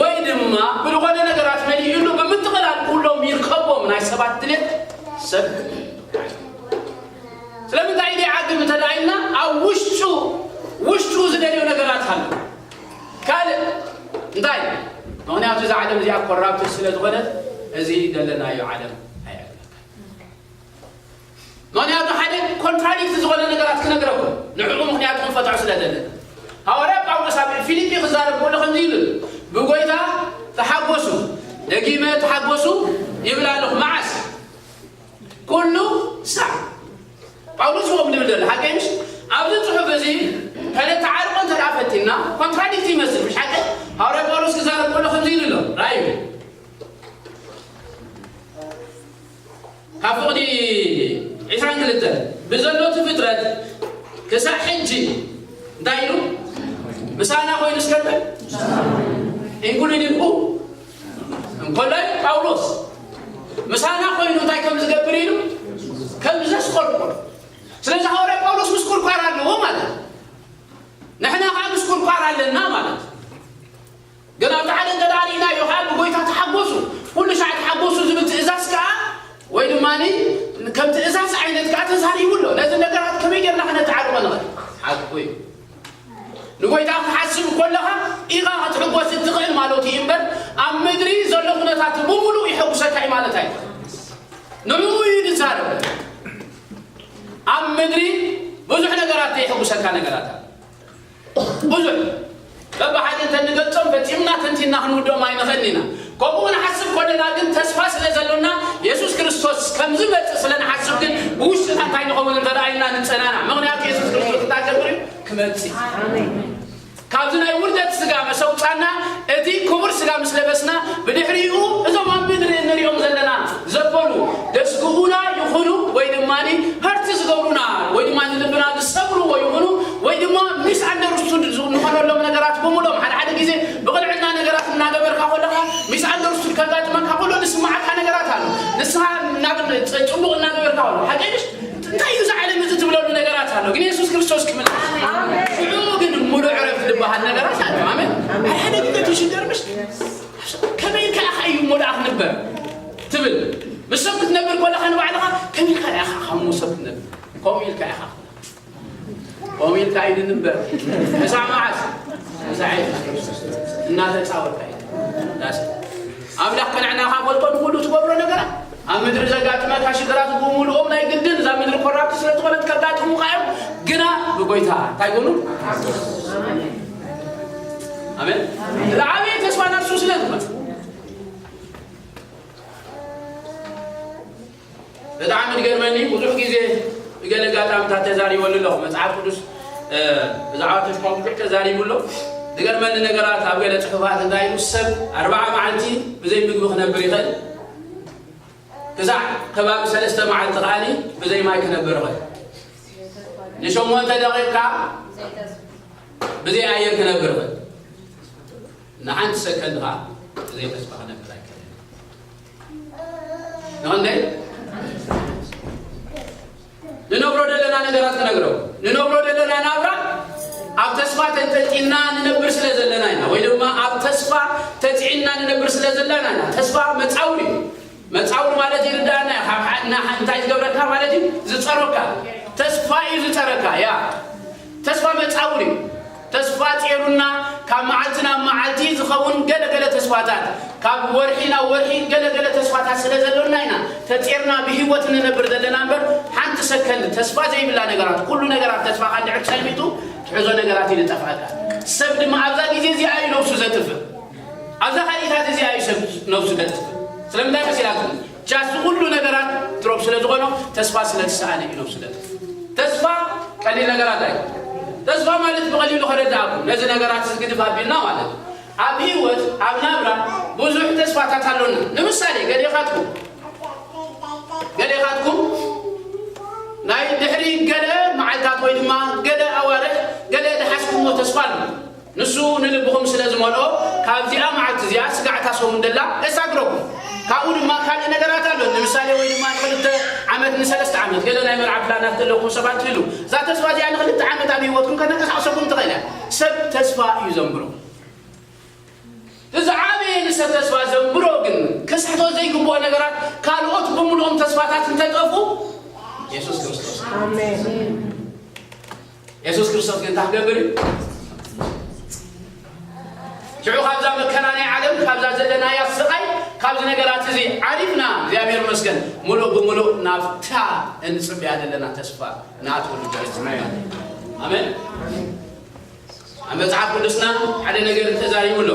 ወይ ድማ ብልኾነ ነገራት መሊኡሉ ብምጥቕላል ኩሎም ይርከቦም ናይ ሰባት ድሌት ሰብ ስለምንታይ ኢደ ዓግብ እንተደኣ ኢልና ኣብ ውሽጡ ውሽጡ ዝደልዮ ነገራት ኣሎ ካልእ እንታይ ምክንያቱ እዛ ዓለም እዚኣ ኮራፕትድ ስለ ዝኾነት እዚ ዘለናዮ ዓለም ኣይዕግበካ ምኽንያቱ ሓደ ኮንትራዲክት ዝኾነ ነገራት ክነግረኩም ንዕኡ ምኽንያቱ ክንፈትሖ ስለ ዘለና ሃዋርያ ጳውሎስ ኣብ ፊልጲ ክዛረብ ከሎ ከምዚ ይብል ብጎይታ ተሓጎሱ ደጊመ ተሓጎሱ ይብል ኣለኹ መዓስ ኩሉ ሳዕ ጳውሎስ ዎም ድብል ዘሎ ሓቀይ ምሽ ኣብዚ ጽሑፍ እዚ ከነተዓርቆ እንተ ደኣ ፈቲና ኮንትራዲክት ይመስል ምሽ ሓቀ ሃዋርያ ጳውሎስ ክዛረብ ከሎ ከምዚ ይብል ኣሎ ራእዩ ካብ ፍቕዲ ዕስራን ክልተን ብዘሎ እቲ ፍጥረት ክሳዕ ሕጂ እንታይ ኢሉ ምሳና ኮይኑ እስከብል ኢንኩሉድን ሁ እንኮላይ ጳውሎስ ምሳና ኮይኑ እንታይ ከም ዝገብር ኢሉ ከም ዘስቆርቆር ስለዚ ሃዋርያ ጳውሎስ ምስ ቁርቋር ኣለዎ ማለት ንሕና ከዓ ምስ ቁርቋር ኣለና ማለት ግን ኣብቲ ሓደ እንተ ደኣ ርኢናዮ ኸኣ ብጐይታ ተሓጐሱ፣ ኵሉ ሻዕ ተሓጐሱ ዝብል ትእዛዝ ከኣ ወይ ድማ ከም ትእዛዝ ዓይነት ከኣ ተዛሪቡ ኣሎ። ነዚ ነገራት ከመይ ጌርና ከነተዓርቖ ንኽእል? ሓቁ እዩ፣ ንጐይታ ክትሓስብ ከሎኻ ኢኻ ክትሕጐስ እትኽእል ማለቱ እዩ እምበር፣ ኣብ ምድሪ ዘሎ ኵነታት ብምሉኡ የሐጕሰካ እዩ ማለት ኣይኰነን። ንዕኡ እዩ ዝዛረብ። ኣብ ምድሪ ብዙሕ ነገራት ዘየሐጕሰካ ነገራት ኣሎ። ብዙሕ በብሓደ እንተ ንገልጾም ፈጺምና ተንቲንና ክንውድኦም ኣይንኽእልን ኢና። ከምኡ ክንሓስብ ከሎና ግን ተስፋ ስለ ዘሎና የሱስ ክርስቶስ ከም ዝመጽእ ስለ ንሓስብ ግን ብውሽጥና እንታይ ንኸውን እንተ ደኣ ኢልና ንጸናናዕ። ምኽንያቱ የሱስ ክርስቶስ እንታይ ክገብር እዩ? ክመጽእ እዩ። ካብዚ ናይ ውርደት ስጋ መስ ኣውጻና እቲ ክቡር ስጋ ምስ ለበስና ብድሕሪኡ እዞም ኣብ ምድሪ እንሪኦም ዘለና ዘበሉ ደስግኡና ይኹኑ ወይ ድማ ሃርት ዝገብሩና ወይ ድማ ንልብና ዝሰብርዎ ይኹኑ ወይ ድማ ሚስ ኣንደርስቱድ ዝኾነሎም ነገራት ብምሎም ሓደ ሓደ ግዜ ብቕንዕና ነገራት እናገበርካ ኮለኻ ሚስ ኣንደርስቱድ ከጋጥመካ ኮሎ ዝስማዓካ ነገራት ኣሎ ንስኻ ናብ ጽቡቕ እናገበርካ ኮሎ ሓቀይሽ እንታይ እዩ ዝዓለም እዚ ትብለሉ ነገራት ኣሎ ግን የሱስ ክርስቶስ ክምልስ ሽዑ ግን ሙሉ ዕረፍቲ ዝበሃል ነገራት ኣሎ ኣሜን ሓደ ሓደ ግዜ ትሽገር ምሽ ከመይ ኢልካ ኢኻ እዩ እሞ ደኣ ክንበር ትብል ምስ ሰብ ክትነብር ኮለኻ ንባዕልኻ ከመይ ኢልካ ደኣ ኢኻ ካብ ሰብ ክትነብር ከምኡ ኢልካ ኢኻ ከምኡ ኢልካ እዩ ንንበር ክሳዕ መዓዝ ክሳዕ እናተፃወታ እዩ ኣምላኽ ቅንዕና ካገልጦ ንኩሉ ትገብሮ ነገራት ኣብ ምድሪ ዘጋጥመካ ሽግራት ብምሉኦም ናይ ግድን እዛ ምድሪ ኮራብቲ ስለ ዝኾነት ከጋጥሙካ እዮም ግና ብጎይታ እንታይ ጎኑ ኣሜን ዝዓበየ ተስፋ ናብ እሱ ስለ ዝመፅ ብጣዕሚ ዝገርመኒ ብዙሕ ግዜ ብገለ ጋጣምታት ተዛሪበሉ ኣለኹ መፅሓፍ ቅዱስ ብዛዕባ ተስፋ ብዙሕ ተዛሪቡ ኣሎ ዝገርመኒ ነገራት ኣብ ገለ ፅሑፋት እንታይ ኢሉ ሰብ ኣርባዓ መዓልቲ ብዘይ ምግቢ ክነብር ይኽእል ክሳዕ ከባቢ ሰለስተ መዓልቲ ከኣ ብዘይ ማይ ክነብር እኽእል። ንሸሞንተ ደቂቕ ከኣ ብዘይ ኣየር ክነብር እኽእል። ንሓንቲ ሰከንድ ከኣ ብዘይ ተስፋ ክነብር ኣይክእልን። ንኽንደይ ንነብሮ ደለና ነገራት ክነግረው ንነብሮ ደለና ናብራ ኣብ ተስፋ ተንጠልጢልና ንነብር ስለ ዘለና ኢና ወይ ድማ ኣብ ተስፋ ተፅዒንና ንነብር ስለ ዘለና ኢና ተስፋ መፃውር እዩ መፃውር ማለት ይርዳእና እንታይ ዝገብረካ ማለት እዩ ዝፀሮካ ተስፋ እዩ ዝፀረካ ያ ተስፋ መፃውር እዩ ተስፋ ጼሩና ካብ መዓልቲ ናብ መዓልቲ ዝኸውን ገለ ገለ ተስፋታት ካብ ወርሒ ናብ ወርሒ ገለ ገለ ተስፋታት ስለ ዘሎና ኢና ተጼርና ብሂወት እንነብር ዘለና እምበር ሓንቲ ሰከንድ ተስፋ ዘይብላ ነገራት ኩሉ ነገራት ተስፋኻ እንድሕር ሰልሚጡ ትሕዞ ነገራት እዩ ዝጠፍኣካ ሰብ ድማ ኣብዛ ግዜ እዚኣ እዩ ነብሱ ዘጥፍእ ኣብዛ ካልኢታት እዚኣ እዩ ሰብ ነብሱ ዘጥፍእ ስለምንታይ መሲላትኩም ጃስ ንኹሉ ነገራት ድሮፕ ስለ ዝኾኖ ተስፋ ስለ ዝሰኣነ ኢሎም ስለ ጥፍኡ። ተስፋ ቀሊል ነገራት ኣይኮነን። ተስፋ ማለት ብቐሊሉ ከረድኣኩም ነዚ ነገራት እዚ ግድፍ ኣቢልና ማለት እዩ። ኣብ ህይወት ኣብ ናብራ ብዙሕ ተስፋታት ኣሎና። ንምሳሌ ገሌኻትኩም ገሌኻትኩም ናይ ድሕሪ ገለ መዓልታት ወይ ድማ ገለ ኣዋርሕ ገለ ዝሓዝኩሞ ተስፋ ኣሎ። ንሱ ንልብኹም ስለ ዝመልኦ፣ ካብዚኣ መዓልቲ እዚኣ ስጋዕ እታ ሰሙን ደላ ኤሳግረኩም። ካብኡ ድማ ካልእ ነገራት ኣሎ፣ ንምሳሌ ወይ ድማ ንክልተ ዓመት ንሰለስተ ዓመት ገለ ናይ መርዓ ፕላናት ዘለኩም ሰባት ትህልው። እዛ ተስፋ እዚኣ ንክልተ ዓመት ኣብ ህይወትኩም ከተንቀሳቕሰኩም ትኽእል እያ። ሰብ ተስፋ እዩ ዘንብሮ። እቲ ዝዓበየ ንሰብ ተስፋ ዘንብሮ ግን ክስሕቶ ዘይግብኦ ነገራት ካልኦት ብምሉኦም ተስፋታት እንተጠፉ የሱስ ክርስቶስ። ኣሜን። የሱስ ክርስቶስ ግን እንታይ ክገብር እዩ ሽዑ ካብዛ መከራ ናይ ዓለም ካብዛ ዘለናያ ስቓይ ካብዚ ነገራት እዚ ዓሪፍና እግዚኣብሔር መስገን ሙሉእ ብምሉእ ናብታ እንፅብያ ዘለና ተስፋ ንኣትወሉ ጀነት ኣሜን ኣብ መፅሓፍ ቅዱስና ሓደ ነገር ተዛሪቡ ኣሎ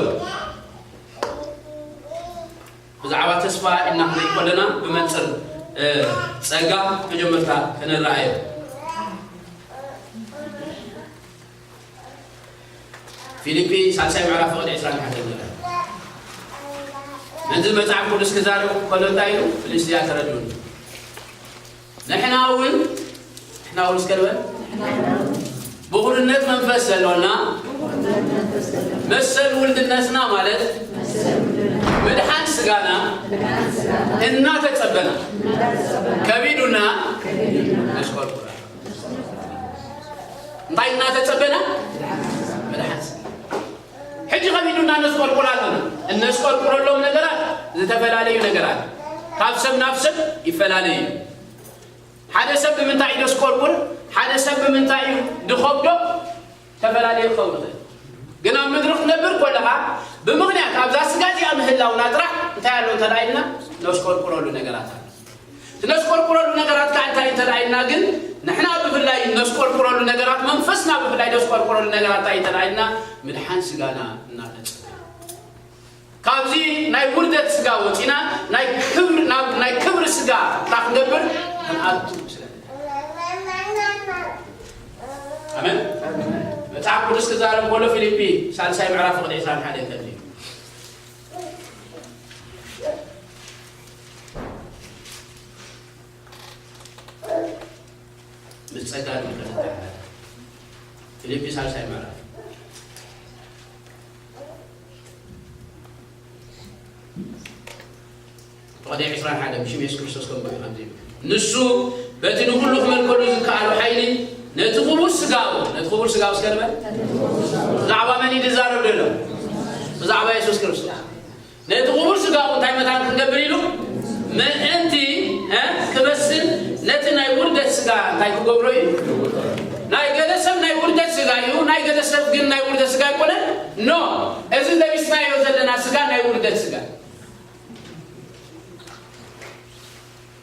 ብዛዕባ ተስፋ ኢልና ክንሪኢ ከሎና ብመንጽር ጸጋ መጀመርታ ክንረኣዮ። ፊልጲ ሳልሳይ ምዕራፍ ፍቕዲ ዕስራን ሓደን ንርኣ። ነዚ መጽሓፍ ቅዱስ ክዛረብ ከሎ እንታይ ኢሉ? ፍልስጥያ ተረድኡኒ። ንሕና እውን ንሕና እውን እስከ ንበል ብኹርነት መንፈስ ዘሎና መሰል ውልድነትና ማለት ምድሓን ስጋና እናተጸበና ከቢዱና ነሽቆርቁራ እንታይ እናተጸበና ምድሓን ስጋ ሕጂ ከቢዱና ነስቆልቁል ኣሎና። እነስቆልቁለሎም ነገራት ዝተፈላለዩ ነገራት ካብ ሰብ ናብ ሰብ ይፈላለዩ እዩ። ሓደ ሰብ ብምንታይ እዩ ደስቆልቁል፣ ሓደ ሰብ ብምንታይ እዩ ድኸብዶ ተፈላለየ ክኸውን ይኽእል። ግን ኣብ ምድሪ ክትነብር ኮለኻ ብምኽንያት ኣብዛ ስጋ እዚኣ ምህላውና ጥራሕ እንታይ ኣሎ እንተ ኢልና ነስቆልቁለሉ ነገራት ኣሎ። እነስቆርቁረሉ ነገራት ካዓ እንታይ እንተደኣ ኢልና ግን ንሕና ብፍላይ እነስቆርቁረሉ ነገራት መንፈስና ብፍላይ እነስቆርቁረሉ ነገራት እንታይ እንተደኣ ኢልና ምድሓን ስጋና እናፈፀመ ካብዚ ናይ ውርደት ስጋ ወፂና ናይ ክብሪ ናብ ናይ ክብሪ ስጋ እንዳ ክንገብር ክንኣቱ ስለ ኣመን መፅሓፍ ቅዱስ ክዛረብ ከሎ ፊልጲ ሳልሳይ ምዕራፍ ቁጥዒ ዕስራን ሓደን ከምዚ ምስ ጸጋ ንምህረት ተሓላለ ፊልጲ ሳልሳይ ምዕራፍ ተቐደ ዕስራን ሓደ ብሽም የሱስ ክርስቶስ ከምኡ እዩ ከምዚ ይብል ንሱ በቲ ንኹሉ ክመልከሉ ዝከኣሉ ሓይሊ ነቲ ክቡር ስጋኡ ነቲ ክቡር ስጋኡ እስከ ንበል ብዛዕባ መን እዩ ዝዛረብ ዘሎ ብዛዕባ የሱስ ክርስቶስ ነቲ ክቡር ስጋኡ እንታይ መታን ክንገብር ኢሉ ምእንቲ ክበስል ነቲ ናይ ውርደት ስጋ እንታይ ክገብሮ እዩ ናይ ገለ ሰብ ናይ ውርደት ስጋ እዩ ናይ ገለ ሰብ ግን ናይ ውርደት ስጋ ኣይኮነ ኖ እዚ ለቢስናዮ ዘለና ስጋ ናይ ውርደት ስጋ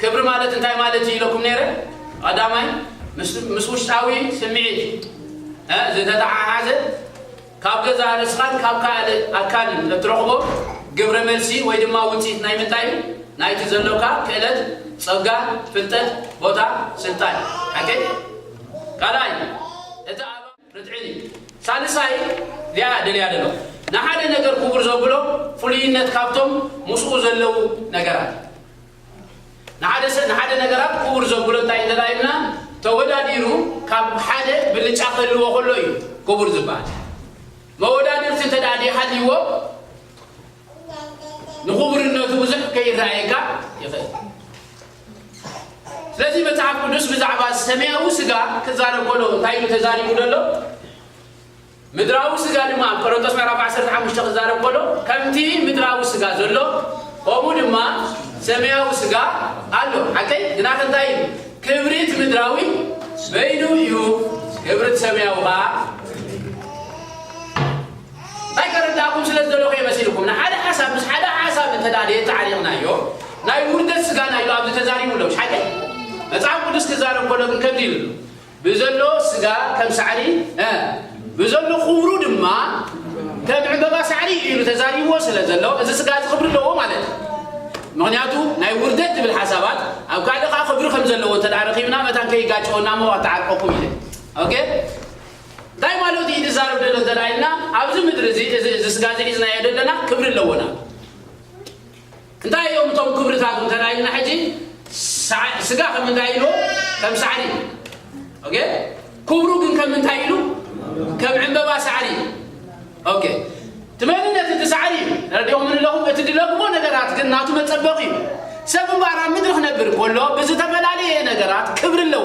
ክብሪ ማለት እንታይ ማለት እዩ ኢለኩም ነይረ ቀዳማይ ምስ ውሽጣዊ ስምዒት ዝተተሓሓዘ ካብ ገዛ ርእስኻን ካብ ካልእ ኣካልን እትረኽቦ ግብረ መልሲ ወይ ድማ ውፅኢት ናይ ምንታይ እዩ ናይቲ ዘሎካ ክእለት ጸጋ ፍልጠት ቦታ ስልጣን ሓቂ ካልኣይ እቲ ርትዒን እዩ ሳልሳይ ሊኣ ደልያ ደለኹ ንሓደ ነገር ኩቡር ዘብሎ ፍሉይነት ካብቶም ምስኡ ዘለዉ ነገራት እዩ ንሓደ ሰብ ንሓደ ነገራት ኩቡር ዘብሎ እንታይ እዩ እንተ ኢልና ተወዳዲሩ ካብ ሓደ ብልጫ ክህልዎ ከሎ እዩ ኩቡር ዝበሃል መወዳድርቲ እንተ ደይሃልይዎ ንኹቡርነቱ ብዙሕ ከይረኣየካ ይኽእል ስለዚ መጽሓፍ ቅዱስ ብዛዕባ ሰማያዊ ስጋ ክዛረብ ከሎ እንታይ ኢሉ ተዛሪቡ ዘሎ ምድራዊ ስጋ ድማ ኣብ ቆሮንቶስ ምዕራፍ 15 ክዛረብ ከሎ ከምቲ ምድራዊ ስጋ ዘሎ ከምኡ ድማ ሰማያዊ ስጋ ኣሎ ሓቀይ ግና ከንታይ እዩ ክብሪት ምድራዊ በይኑ እዩ ክብሪት ሰማያዊ ከዓ ኣይተረዳእኩም ስለ ዝደለኹ እየ መሲልኩም ንሓደ ሓሳብ ምስ ሓደ ሓሳብ እንተ ደየተዓሊቕናዮ ናይ ውርደት ስጋና ኢሉ ኣብዚ ተዛሪቡ ኣሎ ምሽሓቀይ መጽሓፍ ቅዱስ ክዛረብ ከሎ ግን ከምዚ ኢሉ ኣሎ ብዘሎ ስጋ ከም ሳዕሪ ብዘሎ ክብሩ ድማ ከም ዕምበባ ሳዕሪ ኢሉ ተዛሪብዎ ስለ ዘሎ እዚ ስጋ እዚ ክብሪ ኣለዎ ማለት እዩ ምክንያቱ ናይ ውርደት ትብል ሓሳባት ኣብ ካልእ ከዓ ክብሪ ከም ዘለዎ እንተ ረኪብና መታን ከይጋጨወና ሞ ኣተዓርቀኩም ኢለ ኦኬ ታይ ማለቱ እዩ ዝዛረብ ደሎ እንተደኣ ኢልና ኣብዚ ምድሪ እዚ እዚ እዚ ስጋ እዚ ሒዝናዮ ደለና ክብሪ ኣለዎና እንታይ እዮም እቶም ክብርታቱ እንተደኣ ኢልና ሕጂ ስጋ ከም እንታይ ኢልዎ ከም ሳዕሪ ኦኬ ክብሩ ግን ከም እንታይ ኢሉ ከም ዕንበባ ሳዕሪ ኦኬ ትመንነት እቲ ሳዕሪ እዩ ረድኦ ምንለኹም እቲ ድለግሞ ነገራት ግን ናቱ መፀበቂ እዩ ሰብ እምበኣር ኣብ ምድሪ ክነብር ከሎ ብዝተፈላለየ ነገራት ክብሪ ኣለዎ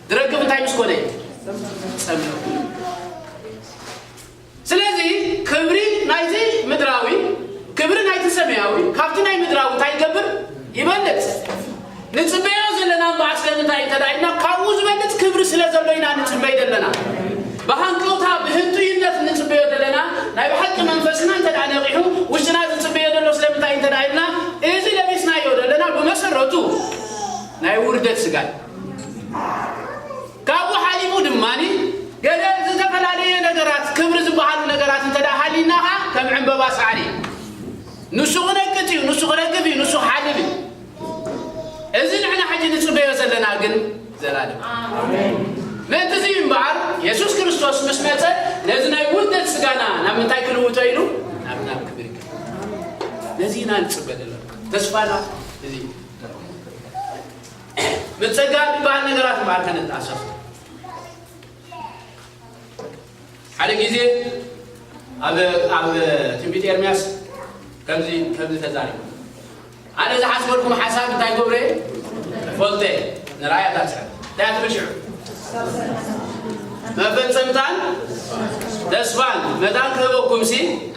ዝረክብ እንታይ ምስ ኮነ ጸምእ ስለዚ ክብሪ ናይቲ ምድራዊ ክብሪ ናይቲ ሰማያዊ ካብቲ ናይ ምድራዊ እንታይ ይገብር ይበልፅ ንፅበዮ ዘለና እምበኣር ስለምንታይ እንተ ኢልና ካብኡ ዝበልፅ ክብሪ ስለ ዘሎ ኢና ንፅበይ ዘለና ብሃንቀውታ ብህንጡይነት ንፅበዮ ዘለና ናይ ብሓቂ መንፈስና እንተ ነቂሑ ውሽጥና ዝፅበዮ ዘሎ ስለምንታይ እንተ ኢልና እዚ ለቢስናዮ ዘለና ብመሰረቱ ናይ ውርደት ስጋ እዩ ካብኡ ሓሊፉ ድማ ገለ ዝተፈላለየ ነገራት ክብሪ ዝበሃሉ ነገራት እንተ ሃሊና ኸዓ ከም ዕምበባ ሳዕሪ እዩ። ንሱ ክነቅፅ እዩ፣ ንሱ ክረግፍ እዩ፣ ንሱ ክሓልፍ እዩ። እዚ ንሕና ሕጂ ንፅበዮ ዘለና ግን ዘላለም ምእንቲ እዚ እዩ እምበኣር የሱስ ክርስቶስ ምስ መፀ ነዚ ናይ ውልደት ስጋና ናብ ምንታይ ክልውጦ ኢሉ ናብ ናብ ክብሪ ነዚ ኢና ንፅበ ዘለና ተስፋና እዚ እዩ። ምጸጋብ ዝበሃል ነገራት እምበኣር ከነተኣሳስብ ሓደ ግዜ ኣብ ኣብ ትንቢት ኤርምያስ ከምዚ ከምዚ ተዛሪቡ ኣነ ዝሓስበልኩም ሓሳብ እንታይ ገብረ ፈልጠ ንራእያ ታስሐ እንታይ ትብል ሽዑ መፈጸምታን ተስፋን መታን ክህበኩም ሲ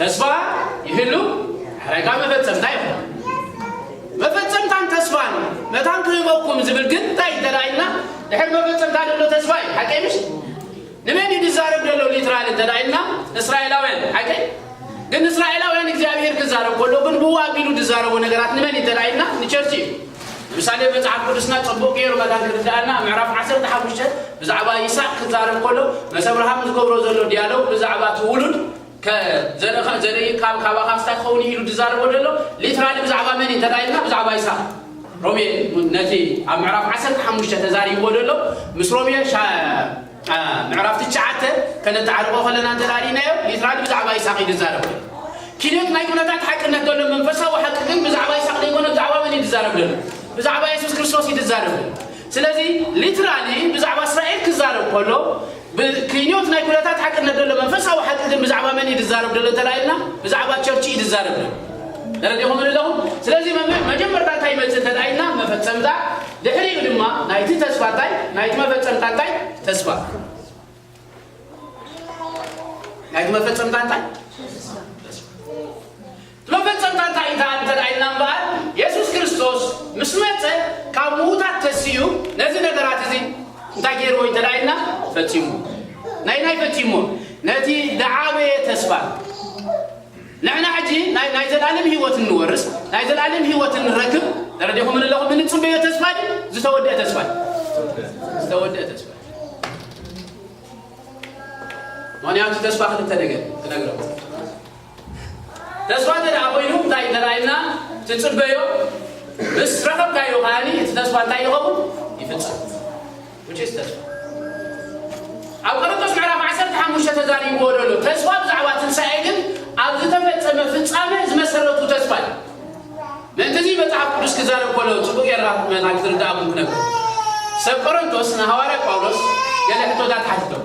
ተስፋ ይህሉ ሓረጋ መፈጸምታ ይኹን መፈጸምታን ተስፋን መታን ክህበኩም ዝብል ግን እንታይ እንተዳኢልና ድሕር መፈጸምታ ደሎ ተስፋ እዩ ሓቀይ ምሽ ንመን እዩ ዝዛረብ ደሎ ሊትራል እንተዳኢልና እስራኤላውያን ሓቀይ ግን እስራኤላውያን እግዚኣብሔር ክዛረብ ከሎ ግን ብኡ ኣቢሉ ዝዛረቦ ነገራት ንመን እዩ እንተዳኢልና ንቸርች እዩ ምሳሌ መጽሓፍ ቅዱስና ጽቡቅ ገይሩ መታን ክርዳኣና ምዕራፍ 15 ብዛዕባ ይስሐቅ ክዛረብ ከሎ መስ ኣብርሃም ዝገብሮ ዘሎ ዲያሎግ ብዛዕባ እቲ ውሉድ ከ ዘርእኻ ዘርኢ ቃል ካባኻ ስታይ ክኸውን ኢሉ ድዛረቦ ደሎ ሊትራሊ ብዛዕባ መን እዩ እንተ ኢልና ብዛዕባ ይስሃቅ ሮሜ ነቲ ኣብ ምዕራፍ ዓሰርተ ሓሙሽተ ተዛሪብዎ ደሎ ምስ ሮሜ ምዕራፍ ትሽዓተ ከነተዓርቆ ከለና እንተ ሪእናዮ ሊትራሊ ብዛዕባ ይስሃቅ እዩ ድዛረብ ደሎ ኪነት ናይ ኩነታት ሓቅነት ደሎ መንፈሳዊ ሓቂ ግን ብዛዕባ ይስሃቅ ዘይኮነ ብዛዕባ መን እዩ ድዛረብ ደሎ ብዛዕባ የሱስ ክርስቶስ እዩ ድዛረብ ደሎ ስለዚ ሊትራሊ ብዛዕባ እስራኤል ክዛረብ ከሎ ብክይንዮት ናይ ኩነታት ሓቅነት ደሎ መንፈሳዊ ሓቂ ግን ብዛዕባ መን እዩ ዝዛረብ ደሎ እንተ ኢልና ብዛዕባ ቸርች እዩ ዝዛረብ ደሎ ተረዲኹምኒ ኣለኹም ስለዚ መጀመርታ እንታይ ይመጽእ እንተ ኢልና መፈጸምታ ድሕሪኡ ድማ ናይቲ ተስፋ እንታይ ናይቲ መፈጸምታ እንታይ ተስፋ ናይቲ መፈጸምታ እንታይ መፈጸምታ እንታይ እዩ ደኣ እንተ ኢልና እምበኣር፣ የሱስ ክርስቶስ ምስ መጸ ካብ ምዉታት ተሲኡ ነዚ ነገራት እዚ እንታይ ገይርዎ እዩ እንተ ኢልና፣ ፈጺምዎ። ነየናይ ፈጺምዎ? ነቲ ዝዓበየ ተስፋ። ንሕና ሕጂ ናይ ናይ ዘለኣለም ህይወት እንወርስ፣ ናይ ዘለኣለም ህይወት እንረክብ፣ ተረዲኹምኒ ኣለኹም፣ እንጽበዮ ተስፋ ድዩ ዝተወድአ ተስፋ እዩ? ዝተወድአ ተስፋ እዩ። ምኽንያቱ ተስፋ ክልተ ነገር ክነግረኩም ተስፋ እንተደኣ ኮይኑ እንታይ እዩ ተራእዩና ትጽበዮ ምስ ረኸብካዮ ከኣኒ እቲ ተስፋ እንታይ ይኸውን ይፍጸም which is ተስፋ ኣብ ቆሮንቶስ ምዕራፍ ዓሰርተ ሓሙሽተ ተዛሪብዎ ዘሎ ተስፋ ብዛዕባ ትንሳኤ ግን ኣብ ዝተፈጸመ ፍጻመ ዝመሰረቱ ተስፋ እዩ ምእንቲ እዚ መጽሓፍ ቅዱስ ክዛረብ ከሎ ጽቡቅ ጌርካ መታን ክትርዳእኩም ክነብር ሰብ ቆሮንቶስ ንሃዋርያ ጳውሎስ ገለ ሕቶታት ሓትቶም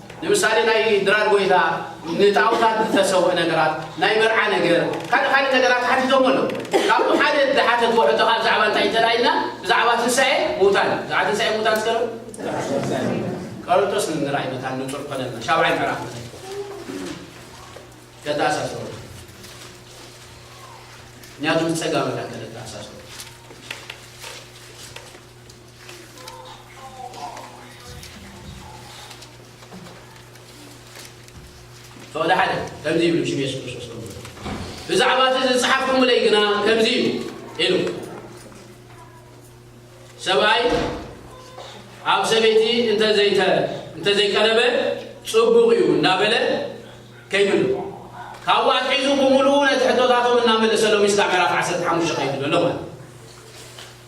ንምሳሌ ናይ ድራር ጎይታ ንጣኦታት ዝተሰውእ ነገራት ናይ መርዓ ነገር ካልእ ካልእ ነገራት ሓቲቶሞ ኣለው ካብኡ ሓደ ዝሓተትዎ ሕቶ ከኣ ብዛዕባ እንታይ እዩ ተላኢልና ብዛዕባ ትንሳኤ ምውታን እዩ ብዛዕባ ትንሳኤ ምውታን እስከ ቀርንጦስ ንራእይ መታን ንጹር ኮነልና ሻብዓይ ምዕራፍ ከተኣሳስሮ ምክንያቱ ብጸጋ መታን ከተኣሳስሮ ፈቐደ ሓደ ከምዚ ይብል ብሽም የሱስ ክርስቶስ ከም ብዛዕባ እቲ ዝጸሓፍኩምለይ ግና ከምዚ እዩ ኢሉ ሰብኣይ ኣብ ሰበይቲ እንተዘይቀረበ ጽቡቕ እዩ እናበለ ከይብሉ ካብኡ ኣትሒዙ ብምሉኡ ነቲ ሕቶታቶም እናመለሰሎም ስካዕ ምዕራፍ 15 ከይዱ ዘሎ ማለት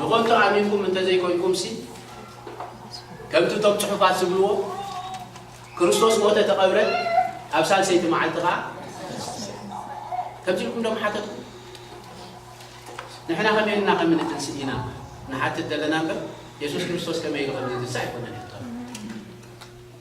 ንኸንቱ ኣሚንኩም እንተዘይኮይንኩምሲ፣ ከምቲ እቶም ጽሑፋት ዝብልዎ፣ ክርስቶስ ሞተ ተቐብረ፣ ኣብ ሳልሰይቲ መዓልቲ ኸኣ ከምዚ ኢልኩም ዶ ምሓተትኩም? ንሕና ከመይ ኢልና ከም እንትንስእ ኢና ንሓትት ዘለና እምበር የሱስ ክርስቶስ ከመይ ኢሉ ከም ዝትንስእ ኣይኮነን።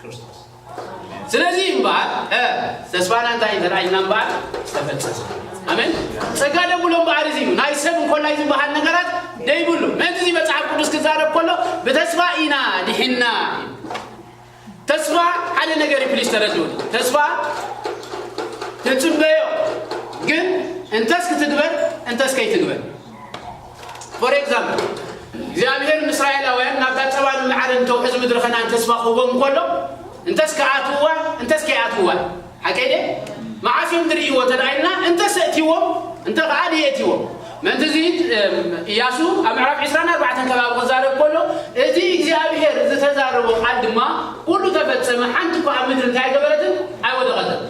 ክርስቶስ ስለዚ እምበኣር እ ተስፋና እንታይ እዩ ተራእይና እምበኣር ዝተፈጸሰ ኣሜን ጸጋ ደብሎ እምበኣር እዚ እዩ ናይ ሰብ እንኮላይ ዝበሃል ነገራት ደይብሉ ምእንቲ እዚ መጽሓፍ ቅዱስ ክዛረብ ከሎ ብተስፋ ኢና ድሒና ተስፋ ሓደ ነገር እዩ ፕሊስ ተረድኡ ተስፋ ትጽበዮ ግን እንተስ ክትግበር እንተስ ከይትግበር For example፣ እግዚኣብሄር ንእስራኤላውያን ናብታ ጸባን መዓርን እተውሕዝ ምድሪ ከነኣን ተስፋ ክህቦም እንከሎ፣ እንተስ ክኣትውዋ እንተስ ከይኣትውዋ እዩ። ሓቀይ ድየ? መዓስ እዮም ዝርእይዎ እንተ ኢልና፣ እንተስ ኣእትይዎም እንተ ኸኣ ደየእትይዎም። ምእንቲ እዚ እያሱ ኣብ ምዕራፍ ዕስራን ኣርባዕተን ከባቢ ክዛረብ ከሎ፣ እዚ እግዚኣብሄር ዝተዛረቦ ቃል ድማ ኵሉ ተፈጸመ፣ ሓንቲ እኳ ኣብ ምድሪ እንታይ ኣይገበረትን? ኣይወደቐትን።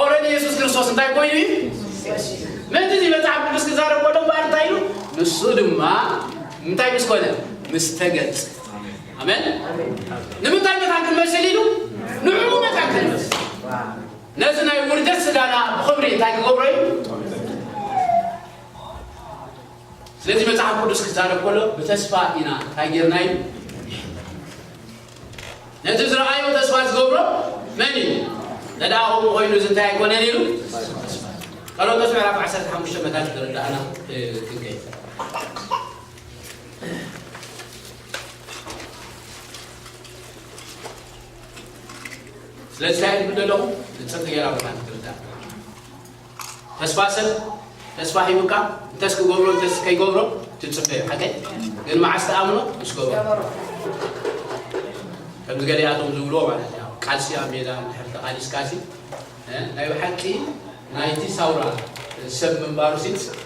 ኦረዲ የሱስ ክርስቶስ እንታይ ኮይኑ እዩ ምእንቲ እዚ መጽሓፍ ቅዱስ ክዛረብ ከሎ እምበኣር እንታይ ኢሉ ንሱ ድማ እንታይ ምስ ኮነ ምስ ተገልጸ ኣሜን ንምንታይ መታን ክንመስል ኢሉ ንዕኡ መታን ክንመስል ነዚ ናይ ውርደት ስጋና ብክብሪ እንታይ ክገብሮ እዩ ስለዚ መጽሓፍ ቅዱስ ክዛረብ ከሎ ብተስፋ ኢና እንታይ ጌርና እዩ ነቲ ዝረኣዮ ተስፋ ዝገብሮ መን እዩ? ነድኣ ከምኡ ኮይኑ እዚ እንታይ ኣይኮነን ኢሉ ተስፋ ቀሎጦስ ምዕራፍ ዓሰርተ ሓሙሽተ መታን ክርዳእና ክንከይ ስለዚ እንታይ ንብል ኣለኹ ንፅርት ገይራ መታን ክርዳእ ተስፋ ሰብ ተስፋ ሂቡካ እንተስ ክገብሮ እንተስ ከይገብሮ ትጽበዮ ሓቀይ ግን መዓስ ትኣምኖ ምስ ገበሮ ከምዚ ገሊኣቶም ዝብልዎ ማለት እዩ ቃልሲ ኣብ ሜዳ ድሕር ተቓሊስካሲ ናይ ብሓቂ ናይቲ ሳውራ ሰብ ምንባሩሲ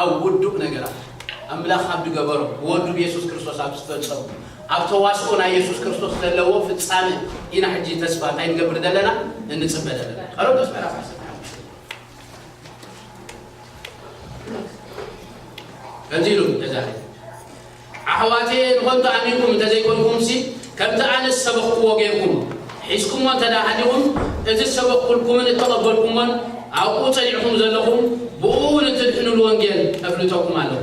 ኣብ ውዱእ ነገራት ኣምላኽ ኣብ ድገበሮ ብወዱ ብየሱስ ክርስቶስ ኣብ ዝፈጸሙ ኣብ ተዋስኦ ናይ የሱስ ክርስቶስ ዘለዎ ፍጻመ ኢና ሕጂ ተስፋ እንታይ ንገብር ዘለና እንጽበ ዘለና ቀረንቶስ ምዕራፍ ዓሰርተ ከምዚ ኢሉ ተዛሪቡ ኣሕዋተየ ንኸንቱ ኣሚንኩም እንተ ዘይኮንኩምሲ፣ ከምቲ ኣነ ዝሰበኽኩዎ ጌርኩም ሒዝኩሞ እንተ ደኣ ሃሊኹም፣ እቲ ዝሰበኽኩልኩምን እተቐበልኩሞን ኣብኡ ጸኒዕኩም ዘለኹም፣ ብእኡ ንትድሕኑ ልወንጌል እፍልጠኩም ኣለኹ።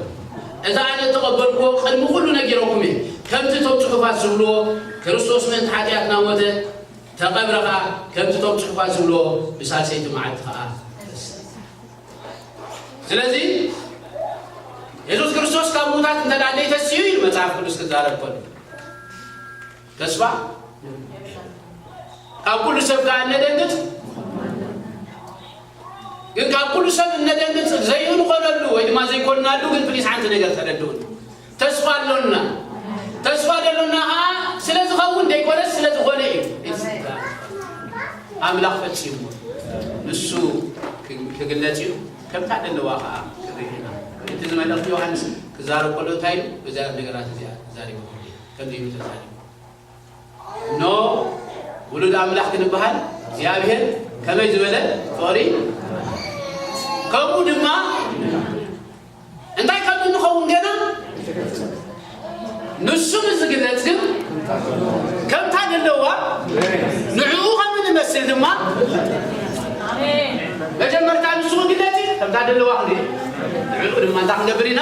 እቲ ኣነ እተቐበልኩዎ ቕድሚ ዅሉ ነጊረኩም እየ፣ ከምቲ እቶም ጽሑፋት ዚብልዎ፣ ክርስቶስ ምእንቲ ሓጢኣትና ሞተ፣ ተቐብረ ኸኣ፣ ከምቲ እቶም ጽሑፋት ዚብልዎ፣ ብሳልሰይቲ መዓልቲ ኸኣ ተንስኣ። ስለዚ የሱስ ክርስቶስ ካብ ምዉታት እንተ ደኣ ዘይተስኡ እዩ መጽሓፍ ቅዱስ ክዛረብ ከሎ ተስፋ ካብ ኩሉ ሰብ ከዓ እነደንግጽ ግን ካብ ኩሉ ሰብ እነደንግጽ ዘይንኾነሉ ወይ ድማ ዘይኮንናሉ ግን ፕሊስ ሓንቲ ነገር ተረድኡን ተስፋ ኣሎና ተስፋ ዘሎና ኸኣ ስለ ዝኸውን ዘይኮነስ ስለ ዝኾነ እዩ ኣምላኽ ፈጺምዎ ንሱ ክግለጽ እዩ ከምታ ደለዋ ኸኣ ክንርኢ ኢና እቲ ዝመልእኽቲ ዮሃንስ ክዛረብ ከሎ እንታይ እዩ ብዛያት ነገራት እዚኣ ዛሪቡ ከምዚ ኢሉ ተዛሪቡ እኖ ውሉድ ኣምላኽ ክንበሃል እግዚኣብሔር ከመይ ዝበለ ፍቕሪ ከምኡ ድማ እንታይ ከም እንኸውን ገና ኣይተገልጸን። ንሱ ንዝግለጽ ግን ከምታ ዘለዋ ንዕኡ ከም እንመስል ድማ መጀመርታ ንሱ ክግለጽ እዩ፣ ከምታ ዘለዋ ክንርኢ ንዕኡ ድማ እንታይ ክንገብር ኢና?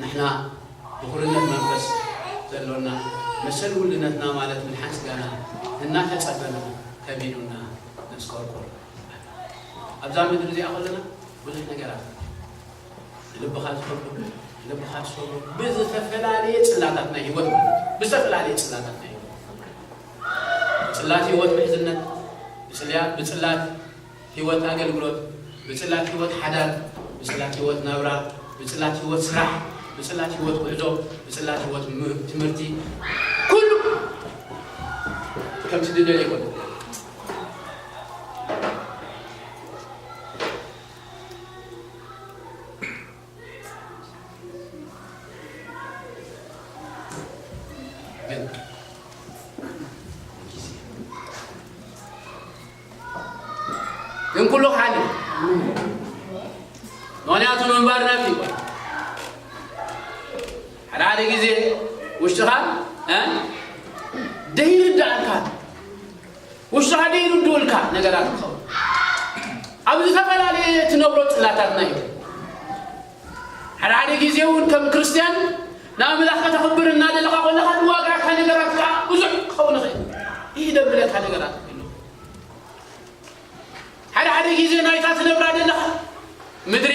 ንሕና ብኩርነት መንፈስ ዘሎና መሰል ውልነትና ማለት ምድሓን ስጋና እናተጸበና ከቢዱና ነስኮርኩር ኣሎ። ኣብዛ ምድሪ እዚኣ ከሎና ብዙሕ ነገራት ንልብኻ ዝኸብዱ ንልብኻ ዝሰብሩ ብዝተፈላለየ ጽላታት ናይ ህይወት ማለት እዩ ብዝተፈላለየ ጽላታት ናይ ህይወት ጽላት ህይወት ምሕዝነት ብጽልያ ብጽላት ህይወት ኣገልግሎት፣ ብጽላት ህይወት ሓዳር፣ ብጽላት ህይወት ናብራ፣ ብጽላት ህይወት ስራሕ፣ ብጽላት ህይወት ውዕሎ፣ ብጽላት ህይወት ትምህርቲ፣ ኩሉ ከምቲ ድደልዮ ይኹን። ግን ኩሉ ክሓልፍ ምክንያቱ ምንባር ናብዚ ይኮ ሓደ ሓደ ግዜ ውሽጥኻ ደይርዳእልካ ውሽጥኻ ደይርድኡልካ ነገራት ክኸውን ኣብ ዝተፈላለየ ትነብሮ ፅላታትና እዩ ሓደ ሓደ ግዜ እውን ከም ክርስትያን ንኣምላኽ ከተኽብር እናደለኻ ኮለኻ ዝዋግኣካ ነገራት ከዓ ብዙሕ ክኸውን ይኽእል እዩ ደብለካ ነገራት ክህልው ሓደ ሓደ ግዜ ናይታ ትነብራ ደለኻ ምድሪ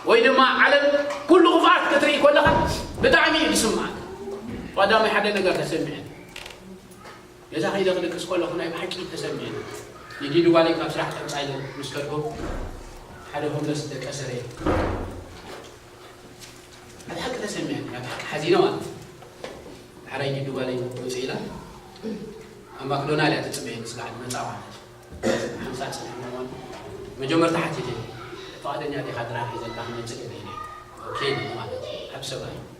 ወይ ድማ ዓለም ኩሉ ክፍኣት ክትርኢ ኮለኻ ብጣዕሚ እዩ ዝስምዓካ ቀዳማይ ሓደ ነገር ተሰሚዐ ነዛ ከይደ ክድቅስ ከለኹ ናይ ብሓቂ ተሰሚዕኒ። ንዲዲ ጓለይ ካብ ስራሕ ቀብጻ ኢለ ምስ ከድኩ ሓደ ሆምለስ ደቀሰ ርእየ። ናይ ብሓቂ ተሰሚዕኒ፣ ናይ ብሓቂ ሓዚነ ማለት እዩ። ዳሕራይ ዲዲ ጓለይ ውጽእ ኢላ ኣብ ማክዶናል እያ ትጽበየኒ ስጋዕ መጻ ማለት እዩ። ሓምሳ ጽንሕ ምእዋን መጀመርታ ሓቲተኒ ፍቓደኛ ዲኻ ጥራሕ እዩ ዘለካ ክመጽእ ደለይኒ ኦኬ ኢለኒ ማለት እዩ። ዓቢ ሰብኣይ እዩ።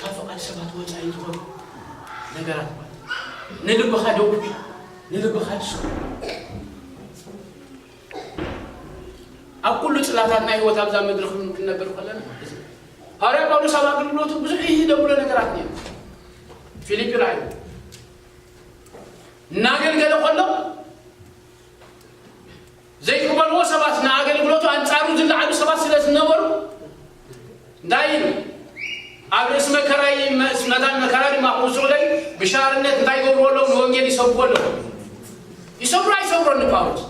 ካብ ፍቓድ ሰባት ወጻኢ ዝኾኑ ነገራት ማለት እዩ። ንልብኻ ደጕ ኢሉ ንልብኻ ድሰኩ ኣብ ኩሉ ጽላታት ናይ ህይወት ኣብዛ ምድሪ ክን- ክንነብር ከለና እዚ እዩ። ሃዋርያ ጳውሎስ ኣብ ኣገልግሎቱ ብዙሕ ይህ ደብሎ ነገራት ነይሩ ፊልጵ ራእዩ እናገልገለ ከሎ ዘይቅበልዎ ሰባት ንኣገልግሎቱ ኣንጻሩ ዝለዓሉ ሰባት ስለ ዝነበሩ እንታይ ኢሉ ኣብ ርእሲ መከራይ መታን መከራ ድማ ክውስዑ ለይ ብሻርነት እንታይ ይገብርዎ ኣለዉ ንወንጌል ይሰብኩዎ ኣለዉ ይሰብሮ ኣይሰብሮ ንጳውሎስ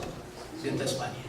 ግን ተስፋ ነይሩ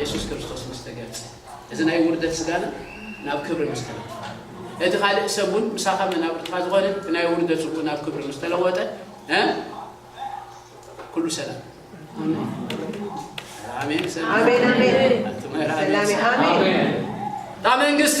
የሱስ ክርስቶስ ምስ ተገልጸ፣ እዚ ናይ ውርደት ስጋና ናብ ክብሪ ምስ ተለውጠ፣ እቲ ካልእ ሰብ እውን ምሳኻ መናብርትኻ ዝኾነ እቲ ናይ ውርደት ስግኡ ናብ ክብሪ ምስ ተለወጠ፣ ኩሉ ሰላም ኣሜን ሰላም ኣሜን ኣሜን ሰላም ኣሜን እታ መንግስቲ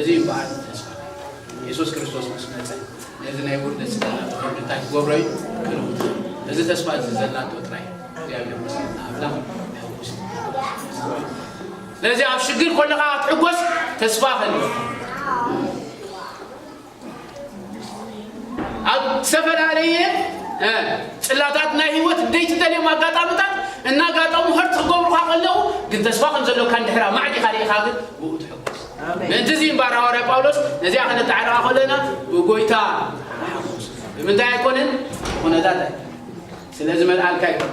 እዚ እዩ በዓል ተስፋ የሱስ ክርስቶስ ምስ መጸ ነዚ ናይ ውርደት ስጋና ብኸብሪ እንታይ ክገብሮ እዩ ክልውጦ እዩ እዚ ተስፋ እዚ ዘላቶ ጥራይ እግዚኣብሔር መስገን ኣምላኽ ሕጉስ ስለዚ ኣብ ሽግር ኮለኻ ክትሕጎስ ተስፋ ከልወካ ኣብ ዝተፈላለየ ጽላታት ናይ ህይወት ዘይትደልዮም ኣጋጣምታት እናጋጠሙ ህርት ክገብሩካ ከለዉ ግን ተስፋ ከም ዘሎካ እንድሕር ኣማዕዲኻ ርኢኻ ግን ብኡ ትሕጎስ ምእንቲ እዚ እምበር ሃዋርያ ጳውሎስ ነዚኣ ከነተዓርቃ ከለና ብጎይታ ብምንታይ ኣይኮነን ኩነታት ኣይኮነ ስለዚ መልኣልካ ኣይኮነ